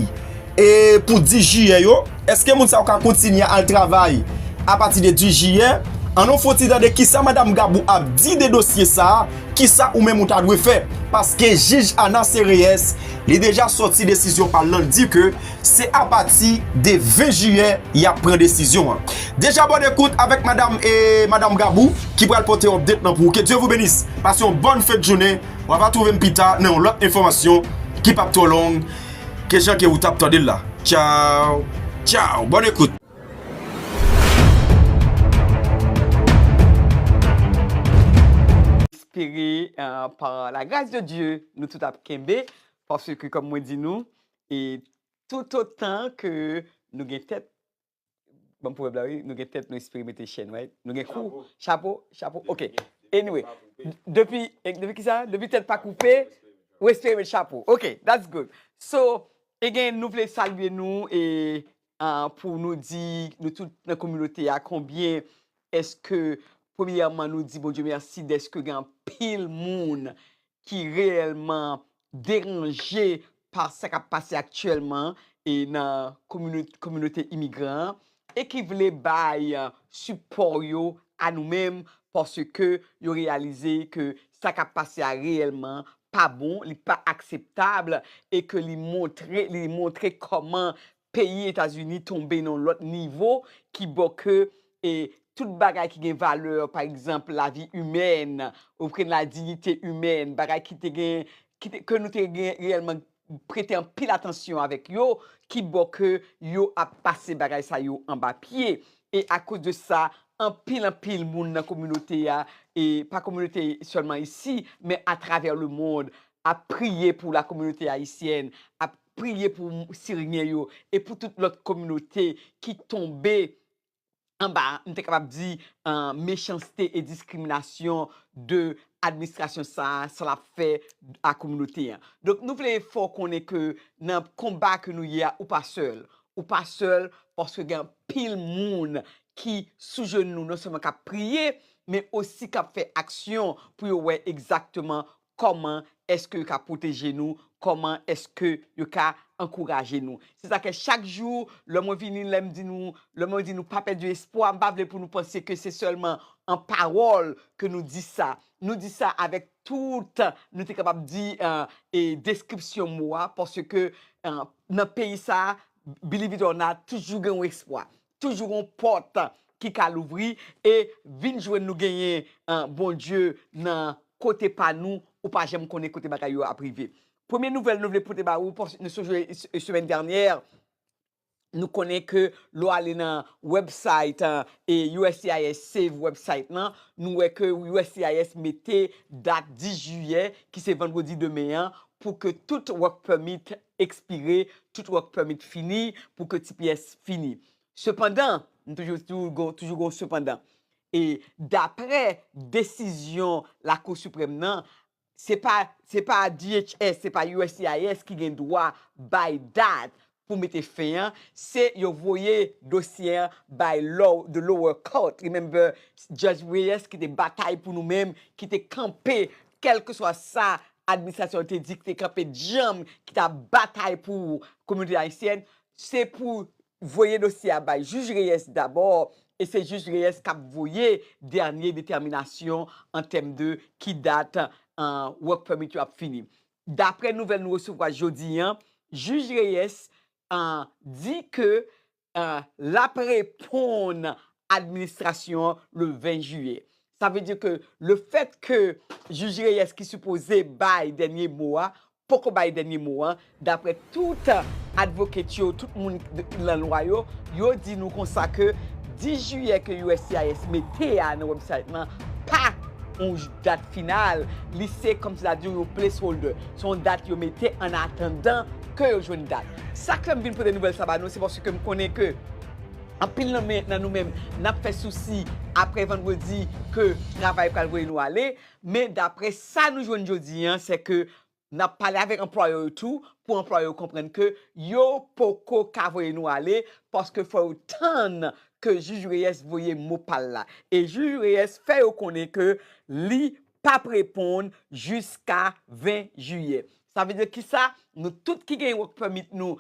e pou 10 jiyè yo, eske moun sa yo ka kontinye al travay apati de 10 jiyè? An nou fon ti tande kisa Madam Gabou ap di de dosye sa a. Kisa ou menm ou ta dwe fè? Paske jij Ana Sereyès li deja sòti desizyon pal lan di ke se apati de 20 jiyè yap pran desizyon an. Deja bòne kout avèk madam e madam Gabou ki pral pote update lan pou ou ke Dye vou benis pase yon bòn fèt jounen wa va twouve m pita nan yon lòt enfòmasyon ki pap twò long ke jan ke ou tap tande l la tchaww tchaww bòn ekout. Espere pa la gras de Dye nou tout ap kenbe paske kòm mwen di nou e toutotan ke nou gen tèt banm pwovèb la wi nou gen tèt nou espere mete chèn right nou gen kou chapo chapo ok anyway depi depi kisa depi tèt pa koupe ou espere met chapo ok that's good so e gen nou vle salye nou e pou nou di nou tout nan kominote a konbyen eske premyèman nou di Bondye mèsi deske gen anpil moun ki reyèlman deranje pa sa k ap pase aktyèlman e nan kominote imigran an e ki vle bay sipò yo a nou menm paske yo reyalize ke sa kap pase a reyèlman pa bon, li pa akseptab e ke li montre, li montre kòman peyi Etazini tonbe nan yon lòt nivo ki bo ke e tout bagay ki gen valè, pa egzanp lavi imèn, ou knprann la diyite imèn, bagay ki te gen, ki te, ke nou te gen reyèlman. prete anpil atansyon avèk yo ki bò ke yo ap pase bagay sa yo anba pye e akoz de sa anpil anpil moun nan kominote a e pa kominote sèlman isi men atravè le mond ap priye pou la kominote ayisyèn ap priye pou siryen yo e pou tout lòt kominote ki tonbe anba, m te kapab di, mechanste e diskriminasyon de administrasyon sa a, sa l ap fè a kominote an. Donk, nou vle fè w konnen ke nan konba ke nou ye a, ou pa sèl. Ou pa sèl paske gen anpil moun ki sou jenou non sèlman k ap priye, men osi k ap fè aksyon pou yo wè egzakteman Kòman èske yo ka pwoteje nou? Kòman èske yo ka ankouraje nou? Se sa k fè chak jou, lè mwen vini, lè m di nou, lè mwen di nou pa pèdi espwa, m pa vle pou nou panse ke se sèlman an pawòl ke nou di sa. Nou di sa avèk tout, nou te kapab di, deskripsyon mo a, paske nan peyi sa a, believe it or not, toujou gen yon espwa. Toujou gon pòt ki ka louvri e vin jwenn nou genyen Bondye nan kote pa nou ou pa janm konnen kote bagay yo ap rive. Premye nouvèl nou vle pote ba ou paske nou sonje semèn dènyè nou konnen ke lè w ale nan website uscis save website lan nou wè ke uscis mete dat 10 jiyè ki se vandredi demen an pou ke tout work permit ekspire, tout work permit fini pou ke tps fini. Sepandan, m toujou di w gon toujou gon sepandan, e daprè desizyon Lakou Siprèm nan, se pa se pa DHS, se pa uscis ki gen dwa bay dat pou mete fen an, se yo voye dosye an bay low the lower court, remember Judge Reyes ki te batay pou nou menm, ki te kanpe kèlkeswa sa administrasyon te di ki te kanpe djanm, ki t ap batay pou kominote ayisyèn, se pou voye dosye a bay jij Reyes dabò, e se jij Reyes k ap voye dènye detèminasyon an tèm de ki dat work permit yo ap fini. Daprè nouvèl nou resevwa jodi an, jij Reyes di ke L ap reponn administrasyon an le 20 jiyè. Sa vle di ke lefèt ke jij Reyes ki sipoze bay dènye mo a poko bay dènye mo a, daprè tout advocate yo, tout moun nan lwa yo, yo di nou konsa ke 10 jiyè ke uscis mete a nan website lan pa yon dat final, li se kòmsitadi yon placeholder. Se yon dat yo mete an atandan ke yo jwenn dat. Sa k fè m vin pote nouvèl sa ba nou se paske m konnen ke anpil nan men nan nou menm n ap fè sousi apre vandredi ke travay pral voye nou ale men dapre sa nou jwenn jodi an se ke n ap pale avèk anplwayè yo tou pou anplwayè yo konprann ke yo poko ka voye nou ale paske fò yo tann ke jij Reyès voye mo pa l la e jij Reyès fè yo konnen ke li pap reponn jiska 20 jiyè. Sa vle di ki sa? Nou tout ki gen work permit nou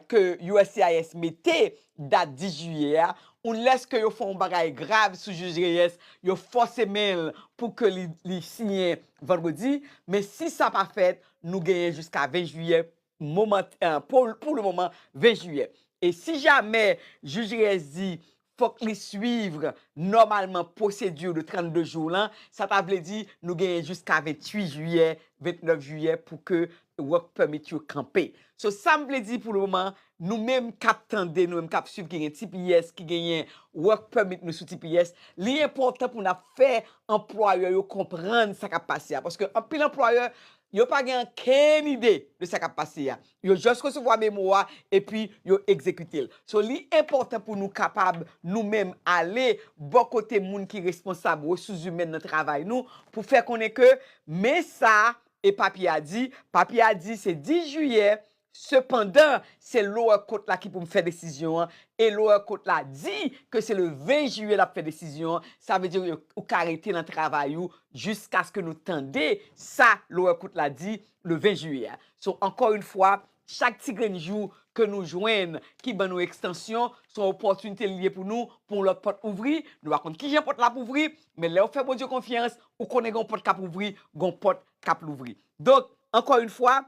ke uscis mete dat 10 jiyè a, unless ke yo fè yon bagay grav sou jij Reyes, yo fòse men l pou ke li siyen vandredi, men si sa pa fèt, nou genyen jiska 20 jiyè Moment pou le moman 20 jiyè. E si jamè jij reyès di fòk li swiv nòmalman pwosedi de 32 jou lan, sa ta vle di nou genyen jiska 28 jiyè, 29 jiyè pou ke work permit yo kanpe. So sa m vle di pou le moman, nou menm k ap tande, nou menm k ap swiv ki gen tps, ki genyen work permit nou sou tps, li enpòtan pou n ap fè anplwayè yo konprann sa k ap pase a. Paske anpil anplwayè Yo pa gen ankenn ide de sa kap pase a. Yo just resevwa memo a epi yo egzekite l. So li enpòtan pou nou kapab nou menm ale bò kote moun ki responsab resouzimèn nan travay nou pou fè konnen ke men sa e papye a di, papye a di se 10 jiyè Sepandan, se lower court la ki pou fè desizyon an e lower court la di ke se le 20 jiyè lap fè desizyon an, sa vle di ou ka rete nan travay ou jiskaske nou tande sa lower court la di le 20 jiyè a. So, ankò yon fwa, chak ti grenn jou ke nou jwenn ki ban nou ekstansyon, se yon opòtinite li ye pou nou, pou yon lòt pòt ouvri, nou pa konn kijan pòt la ap ouvri, men lèw fè Bondye konfyans, ou konnen gen yon pòt kap ouvri, gen yon pòt kap louvri. Donk, ankò yon fwa,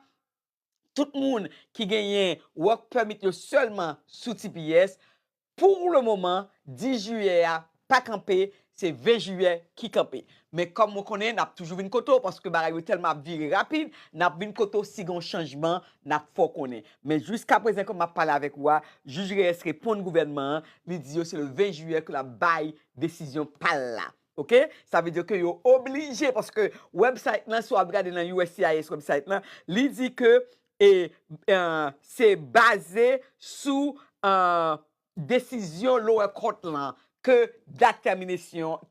tout moun ki genyen Work Permit yo sèlman sou tps, pou le moman 10 jiyè a pa kanpe, se 20 jiyè ki kanpe. Men kòm mwen konnen n ap toujou vin kote w paske bagay yo tèlman ap vire rapid, n ap vin kote w si gen yon chanjman n ap fè w konnen. Men jiskaprezan kòm m ap pale avèk ou a, Jij Reyes reponn gouvènman an, li di yo se le 20 jiyè ke l ap bay desizyon pa l la. Ok sa vle di ke yo oblije paske website lan si wap gade nan uscis website lan li di ke se baze sou desizyon lower court lan ke dat termination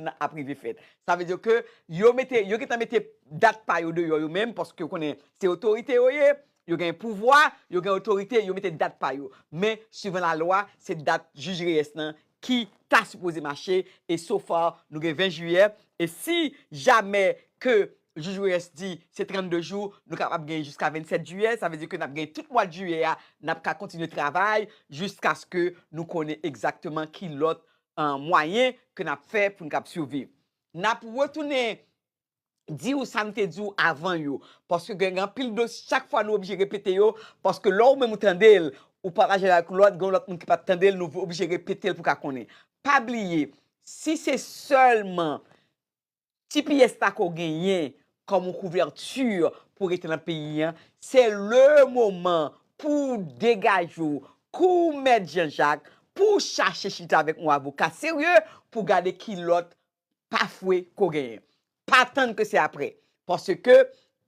nan ap rive fèt sa vle di ke yo mete yo gentan mete dat pa yo deyò yo menm paske yo konnen se otorite yo ye yo gen pouvwa yo gen otorite yo mete dat pa yo men suivan la lwa se dat jij Reyes lan ki ta sipoze mache e so far nou gen 20 jiyè e si jamè ke jij Reyes di se 32 jou nou kapab gen jiska 27 jiyè sa vle di ke nap gen tout mwad jiyè a nap ka kontinye travay jiskaske nou konnen egzakteman ki lòt mwayen ke nap fè poun kab siviv nap retounen di ou sa m te di ou avan yo, paske gen anpil dosye chak fwa nou oblije repete yo, paske lè ou menm ou tande l, ou pataje l ak lòt, gen yon lòt moun ki pa t tande l, nou oblije repete l pou ka konnen. Pa bliye, si se sèlman tps la ke w genyen kòm yon kouvèti pou w rete nan peyi an, se le moman pou w degaje w kou Mèt Jan Jak, pou w chache chita avèk yon avoka serye pou w gade ki lòt pa fwe ko genyen. Pa tann ke se apre. Paske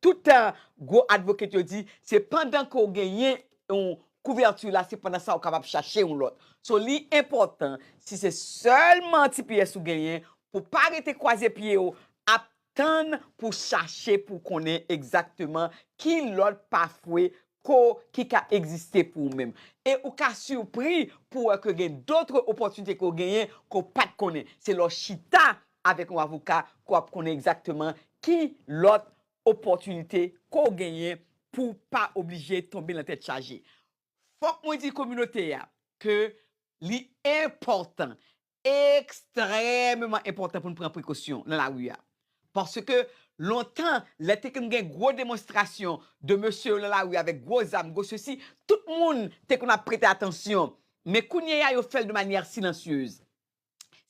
tout gwo advocate yo di se pandan ke w genyen yon couverture la se pandan sa ou kapab chache yon lòt. So li enpòtan si se sèlman tps ou genyen pou pa rete kwaze pye w ap tann pou chache pou konnen egzakteman ki lòt pa fwe ko ki ka egziste pou ou menm. E ou ka sipri pou wè ke gen dotre opòtinite ke w genyen ke w pat konnen. Se lè w chita avèk yon avoka ke w ap konnen egzakteman ki lòt opòtinite ke w genyen pou w pa oblije tonbe nan tèt chaje. Fòk mwen di kominote a ke li enpòtan Ekstrèmeman enpòtan pou n pran prekosyon nan lari a. Paske, lontan, lè te konn gen gwo demonstrasyon de mesye yo nan lari avèk gwo zam, gwo sesi, tout moun te konn ap prete atansyon. Men kounyeya yo fè l de manyè silansyez.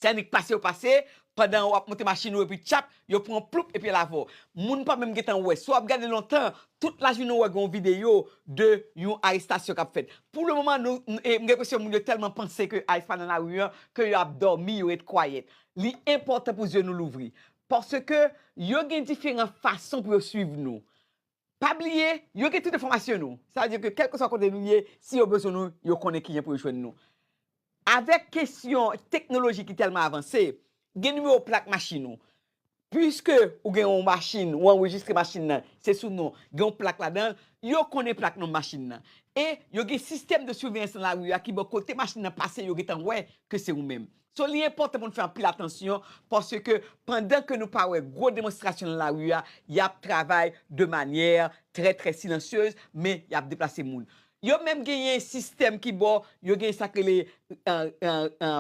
Sènnik pase yo pase, pandan ou ap monte machin ou epi tchap, Yo pran ploup epi lave w. Moun pa menm gentan wè. Si w ap gade lontan, tout lajounen ou wè gen yon videyo de yon arestasyon k ap fèt. Pou le moman nou, m gen enpresyon moun yo tèlman panse ke ice pa nan lari an, ke yo ap dòmi, yo ret kwayèt. Li enpòtan pou zye nou louvri. Paske yo gen diferan fason pou yo swiv nou. Pa bliye, yo gen tout enfòmasyon nou. Sa vle di ke kèlkeswa kote nou ye, si yo bezwen nou, yo konnen kijan pou yo jwenn nou. Avèk kesyon teknoloji ki tèlman avanse, gen nimewo plak machin ou. Piske ou gen yon machin, ou anrejistre machin nan, se sou non, gen yon plak ladan, yo konnen plak nonm machin nan. E yo gen sistèm de siveyans nan lari a ki bo kote machin nan pase yo gentan wè ke se ou menm. So li enpòtan pou nou fè anpil atansyon paske pandan ke nou pa wè gwo demonstrasyon nan lari a, y ap travay de manyè trè trè silansyez men y ap deplase moun. Yo menm genyen sistèm ki bo yo genyen sa k rele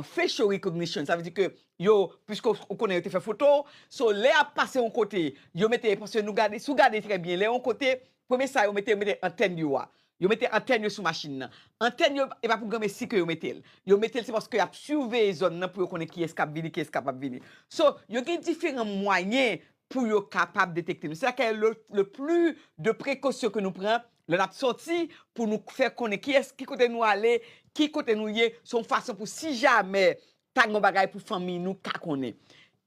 facial recognition sa vle di ke yo piske ou konnen yo te fè foto w so lè y ap pase yon kote yo mete paske nou gade si w gade trè byen lè yon kote Premye sa yo mete, yo mete antèn yo a. Yo mete antèn yo sou machin nan. Antèn yo, e pa pou granmesi ke yo mete l. Yo mete l se paske y ap siveye zòn nan pou yo konnen kiyès k ap vini, kiyès k ap ap vini. So, yo gen diferan mwayen pou yo kapab detekte nou. Se sa kè le pli de prekosyon ke nou pran lè n ap sòti pou nou fè konnen kiyès, ki kote nou ale, ki kote nou ye. Se yon fason pou si jamè ta gen yon bagay pou fanmi nou ka konnen.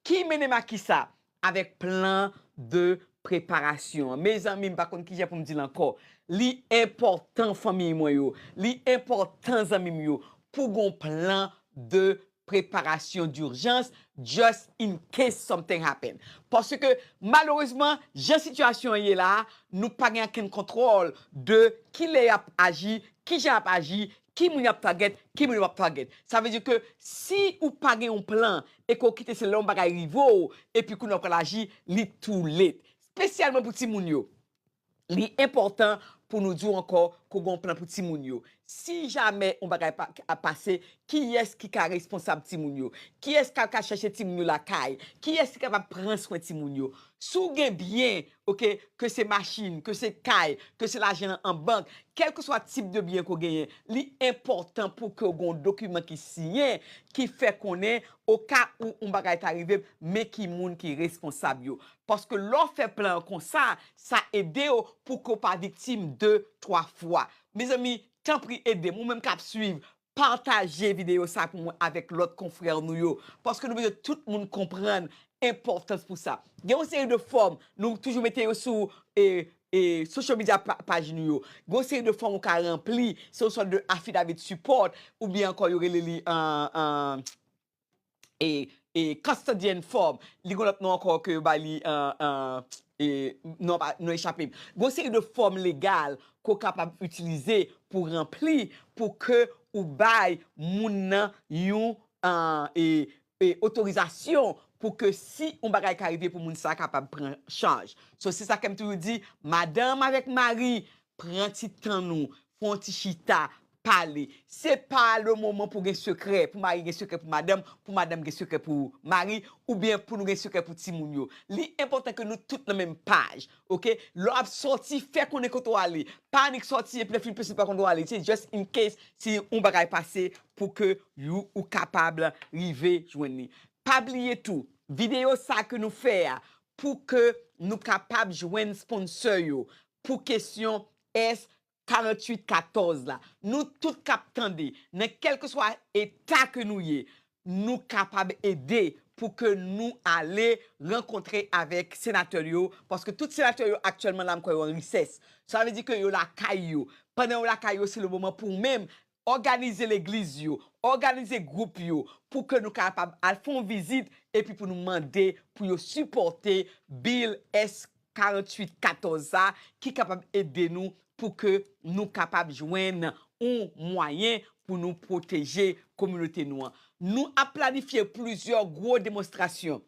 Ki mennen m a kisa? Avèk plan de preparasyon an. Mezanmi m pa konn kijan pou m di l ankò. Li enpòtan fanmiy mwen yo, li enpòtan zanmi m yo pou gen yon plan de preparasyon d'urgence just in case something happen. Paske malerezman jan sitiyasyon an ye la a, nou pa gen ankenn kontwòl de kilè y ap aji, kijan y ap aji, Ki moun yap target, ki moun yo pap target. Sa vle di ke si ou pa gen yon plan e ke ou kite se lè yon bagay rive w epi kounye a ou pral aji, li too late. Spesyalman pou timoun yo. Li enpòtan pou nou di w ankò ke w gen yon plan pou timoun yo. Si jamè yon bagay ap pase, kiyès ki ka responsab timoun yo? Kiyès kap ka chèche timoun yo lakay? Kiyès ki kapab pran swen timoun yo? Si w gen byen Ok ke se machin, ke se kay, ke se lajan an bank, kèlkeswa tip de byen ke w genyen, li enpòtan pou ke w gen yon dokiman ki siyen ki fè konnen oka ou yon bagay ta rive m, men ki moun ki responsab yo. Paske lè w fè plan an konsa, sa ede w pou ke w pa viktim de twa fwa. Mezanmi, tanpri ede m, ou menm k ap suiv, Pataje videyo sa pou mwen avèk lòt konfrè nou yo, paske nou bezwen tout moun konprann enpòtans pou sa. Gen yon seri de fòm, nou toujou mete yo sou social media paj nou yo. Gen yon seri de fòm ou ka ranpli, se yon sòt de affidavit support, oubyen ankò yo rele li e e Custodian Form, li gen yon lòt non ankò ke yo bay li e non pa non echape m. Gen yon seri de fòm legal ke w kapab itilize pou ranpli pou ke ou bay moun nan yon e e otorizasyon pou ke si yon bagay ka rive pou moun sa kapab pran chaj. So se sa ke m toujou di, madanm avèk mari Pran ti tan nou, fè yon ti chita, pale. Se pa le moman pou gen sekrè, pou mari gen sekrè pou madanm, pou madanm gen sekrè pou mari, oubyen pou nou gen sekrè pou timoun yo. Li enpòtan ke nou tout nan menm paj, ok. Lè w ap sòti, fè konnen kote w ale. Pa annik sòti epi lè w fin pèsonn pa konn kote w ale. Se just in case si yon bagay pase pou ke you ou kapab rive jwenn li. Pa bliye tou, videyo sa ke nou fè a, pou ke nou kapab jwenn sponsor yo, Pou kesyon S. 48 14 la, nou tout k ap tande, nan kèlkeswa eta ke nou ye, nou kapab ede pou ke nou ale rankontre avèk senatè yo, paske tout senatè yo aktyèlman la m kwè yo an resès. Sa vle di ke yo lakay yo. Pandan yo lakay yo, se le moman pou ou menm òganize legliz yo, òganize gwoup yo pou ke nou kapab al fè yon vizit epi pou nou mande pou yo sipòte Bill S. 48 14 sa ki kapab ede nou pou ke nou kapab jwenn yon mwayen pou nou pwoteje kominote nou an. Nou ap planifye plizyè gwo demonstrasyon.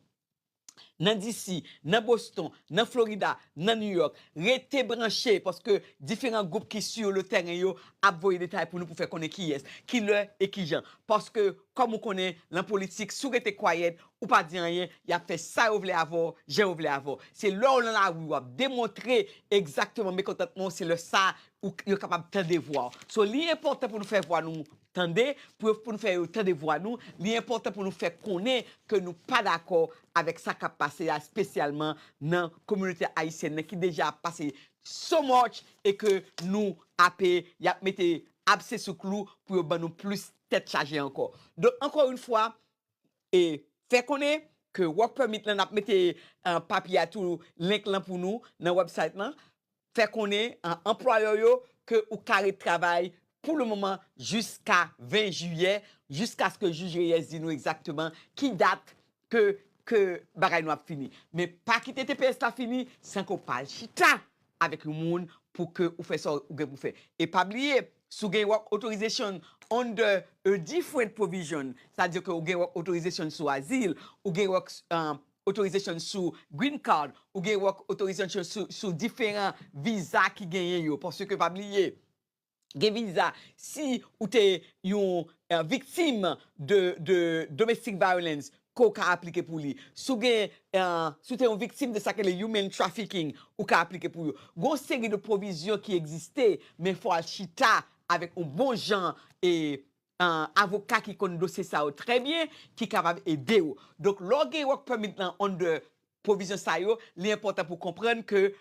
nan DC, nan Boston, nan Florida, nan New York. Rete branche paske diferan gwoup ki sur le terrain yo ap voye detay pou nou pou fè konnen kiyès, ki lè e ki jan. Paske kòm ou konnen lan politik si w rete quiet ou pa di anyen y ap fè sa yo vle avè w, jan yo vle avè w. Se lè w lan lari w ap demontre egzakteman mekontantman w se lè sa yo kapab tande vwa w. So li enpòtan pou nou fè vwa nou Tande, pou yo pou nou fè yo tande vwa nou, li enpòtan pou nou fè konnen ke nou pa dakò avèk sa kap pase a espesyalman nan kominote ayisyèn nan ki deja ap pase so much e ke nou ape yap mete abse sou klou pou yo ban nou plis tèt chaje ankò. Donk ankò yn fwa e fè konnen ke work permit lan nap mete papye a tou link lan pou nou nan website lan fè konnen a anplwayè w yo ke ou ka ret travay pou le moman jiska 20 jiyè, jiskaske jij Reyes di nou egzakteman ki dat ke ke bagay nou ap fini. Men pa kite tps la fini san ke w pa al chita avèk yon moun pou ke ou fè sa ou gen pou fè. E pa bliye, si w gen work authorization under a different provision, sa vle di ke ou gen work authorization sou azil, ou gen work, Authorization sou Green Card ou gen Work Authorization sou diferan viza ki genyen yo. Paske pa bliye gen viza si ou te yon viktim de domestic violence ke ou ka aplike pou li. Si w gen, si w te yon viktim de sa ki rele human trafficking ou ka aplike pou yo. Gen yon seri de pwovizyon ki egziste men fò w al chita avèk yon bon jan avoka ki konn dosye sa yo trè byen ki kapab ede ou. Donk lè w gen work permit lan under pwovizyon sa yo, li enpòtan pou w konprann ke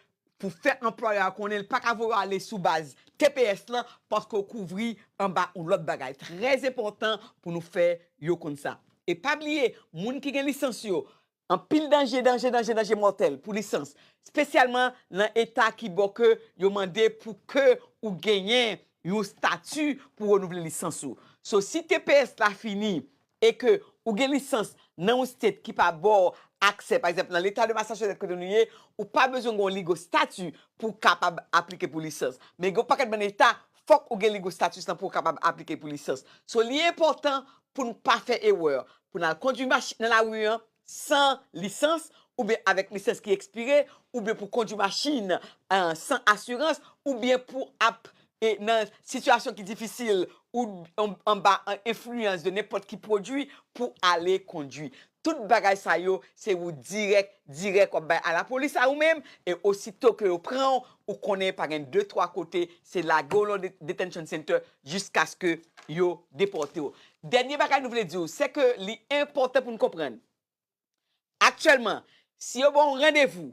pou fè anplwayè a konnen li pa ka voye w ale sou baz tps lan paske w kouvri anba yon lòt bagay. Trè enpòtan pou nou fè yo konn sa. E pa bliye moun ki gen lisans yo Anpil danje, danje, danje, danje mòtèl pou lisans, spesyalman nan eta ki bò ke yo mande pou ke ou genyen yon stati pou renouvle lisans ou. So si tps la fini e ke ou gen lisans nan yon state ki pa ba w aksè, pa egzanp nan leta de Massachusetts kote nou ye, ou pa bezwen gen yon legal stati pou w kapab aplike pou lisans. Men gen yon pakèt bann eta fòk ou gen legal status lan pou w kapab aplike pou lisans. So li enpòtan pou nou pa fè erè, pou n al kondwi machin nan lari an san lisans oubyen avèk lisans ki ekspire oubyen pou kondwi machin san asirans oubyen pou ap nan sitiyasyon ki difisil ou anba enfliyans de nenpòt ki pwodui pou ale kondwi. Tout bagay sa yo se ou dirèk dirèk w ap bay alapolis a ou menm e osito ke yo pran w ou konnen pa gen de twa kote se lage w lan detention center jiskaske yo depòte w. Dènye bagay nou vle di w, se ke li enpòtan pou n konprann, aktyèlman, si yo ba w randevou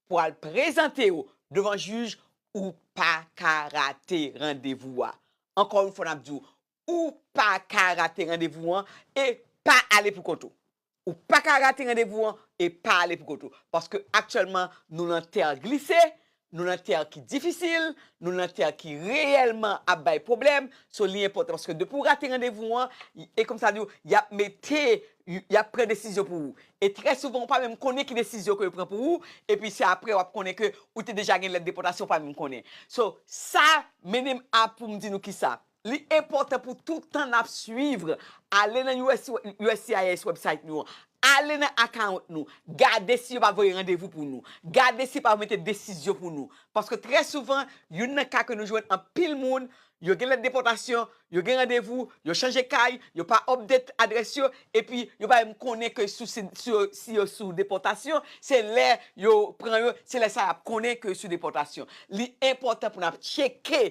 pou w al prezante w devan jij, ou pa ka rate randevou a. Ankò yon fwa n ap di w, ou pa ka rate randevou an e pa ale pou kont ou. Ou pa ka rate randevou an e pa ale pou kont ou. Paske aktyèlman nou lan tè glise, nou lan tè ki difisil, nou lan tè ki reyèlman ap bay pwoblèm, so li enpòtan paske depi ou rate randevou an, e kòm sa di ou, y ap mete, y ap pran desizyon pou ou. E trè souvan ou pa menm konnen ki desizyon ke yo pran pou ou, epi se aprè w ap konnen ke ou te deja gen lèt depòtasyon ou pa menm konnen. So sa mennen m a pou m di nou kisa? Li enpòtan pou tout tan n ap suiv, ale nan uscis website nou an, ale nan account nou, gade si yo pa voye randevou pou nou, gade si yo pa mete desizyon pou nou. Paske trè souvan, youn nan ka ke nou jwenn anpil moun, yo gen lèt depòtasyon, yo gen randevou, yo chanje kay, yo pa update adrès yo, epi yo pa menm konnen ke si yo sou depòtasyon, se lè yo pran yo, se lè sa y ap konnen ke yo sou depòtasyon. Li enpòtan pou n ap tcheke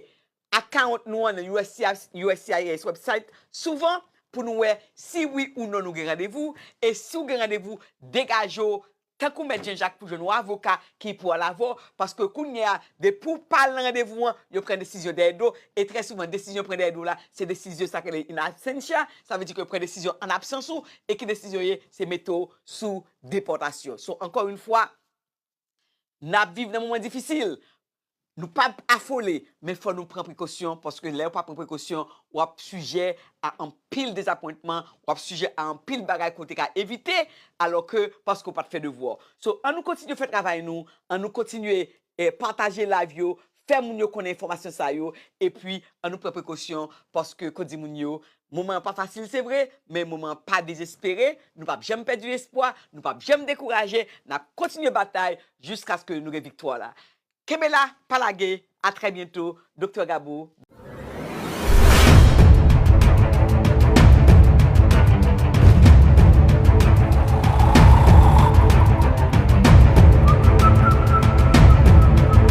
Account nou an nan uscis website souvan pou nou wè si wi ou non nou gen randevou e si ou gen randevou degaje w tankou mèt Jean Jacques pou jwenn yon avoka ki pou al avè w paske kounye a depi ou pa al nan randevou an yo pran desizyon dèyè do e trè souvan desizyon yo pran dèyè do w la se desizyon sa ki rele in absentia sa vle di ke yo pran desizyon an absans ou e ki desizyon ye se mete w sou depòtasyon so ankò yn fwa N ap viv nan moman difisil, nou pa p afole, men fò nou pran prekosyon, paske lè ou pa pran prekosyon, w ap sijè a anpil dezapwentman, w ap sijè a anpil bagay ke w te ka evite, alò ke paske ou pa t fè devwa w. So, an nou kontinye fè travay nou, an nou kontinye pataje live yo, fè moun yo konnen enfòmasyon sa yo epi an nou pran prekosyon paske ko di moun yo moman an pa fasil se vre men moman an pa dezespere nou pap janm pèdi espwa nou pap janm dekouraje nap kontinye batay jiskaske nou gen viktwa la kenbe la pa lage a trè byento Doktè Gabo.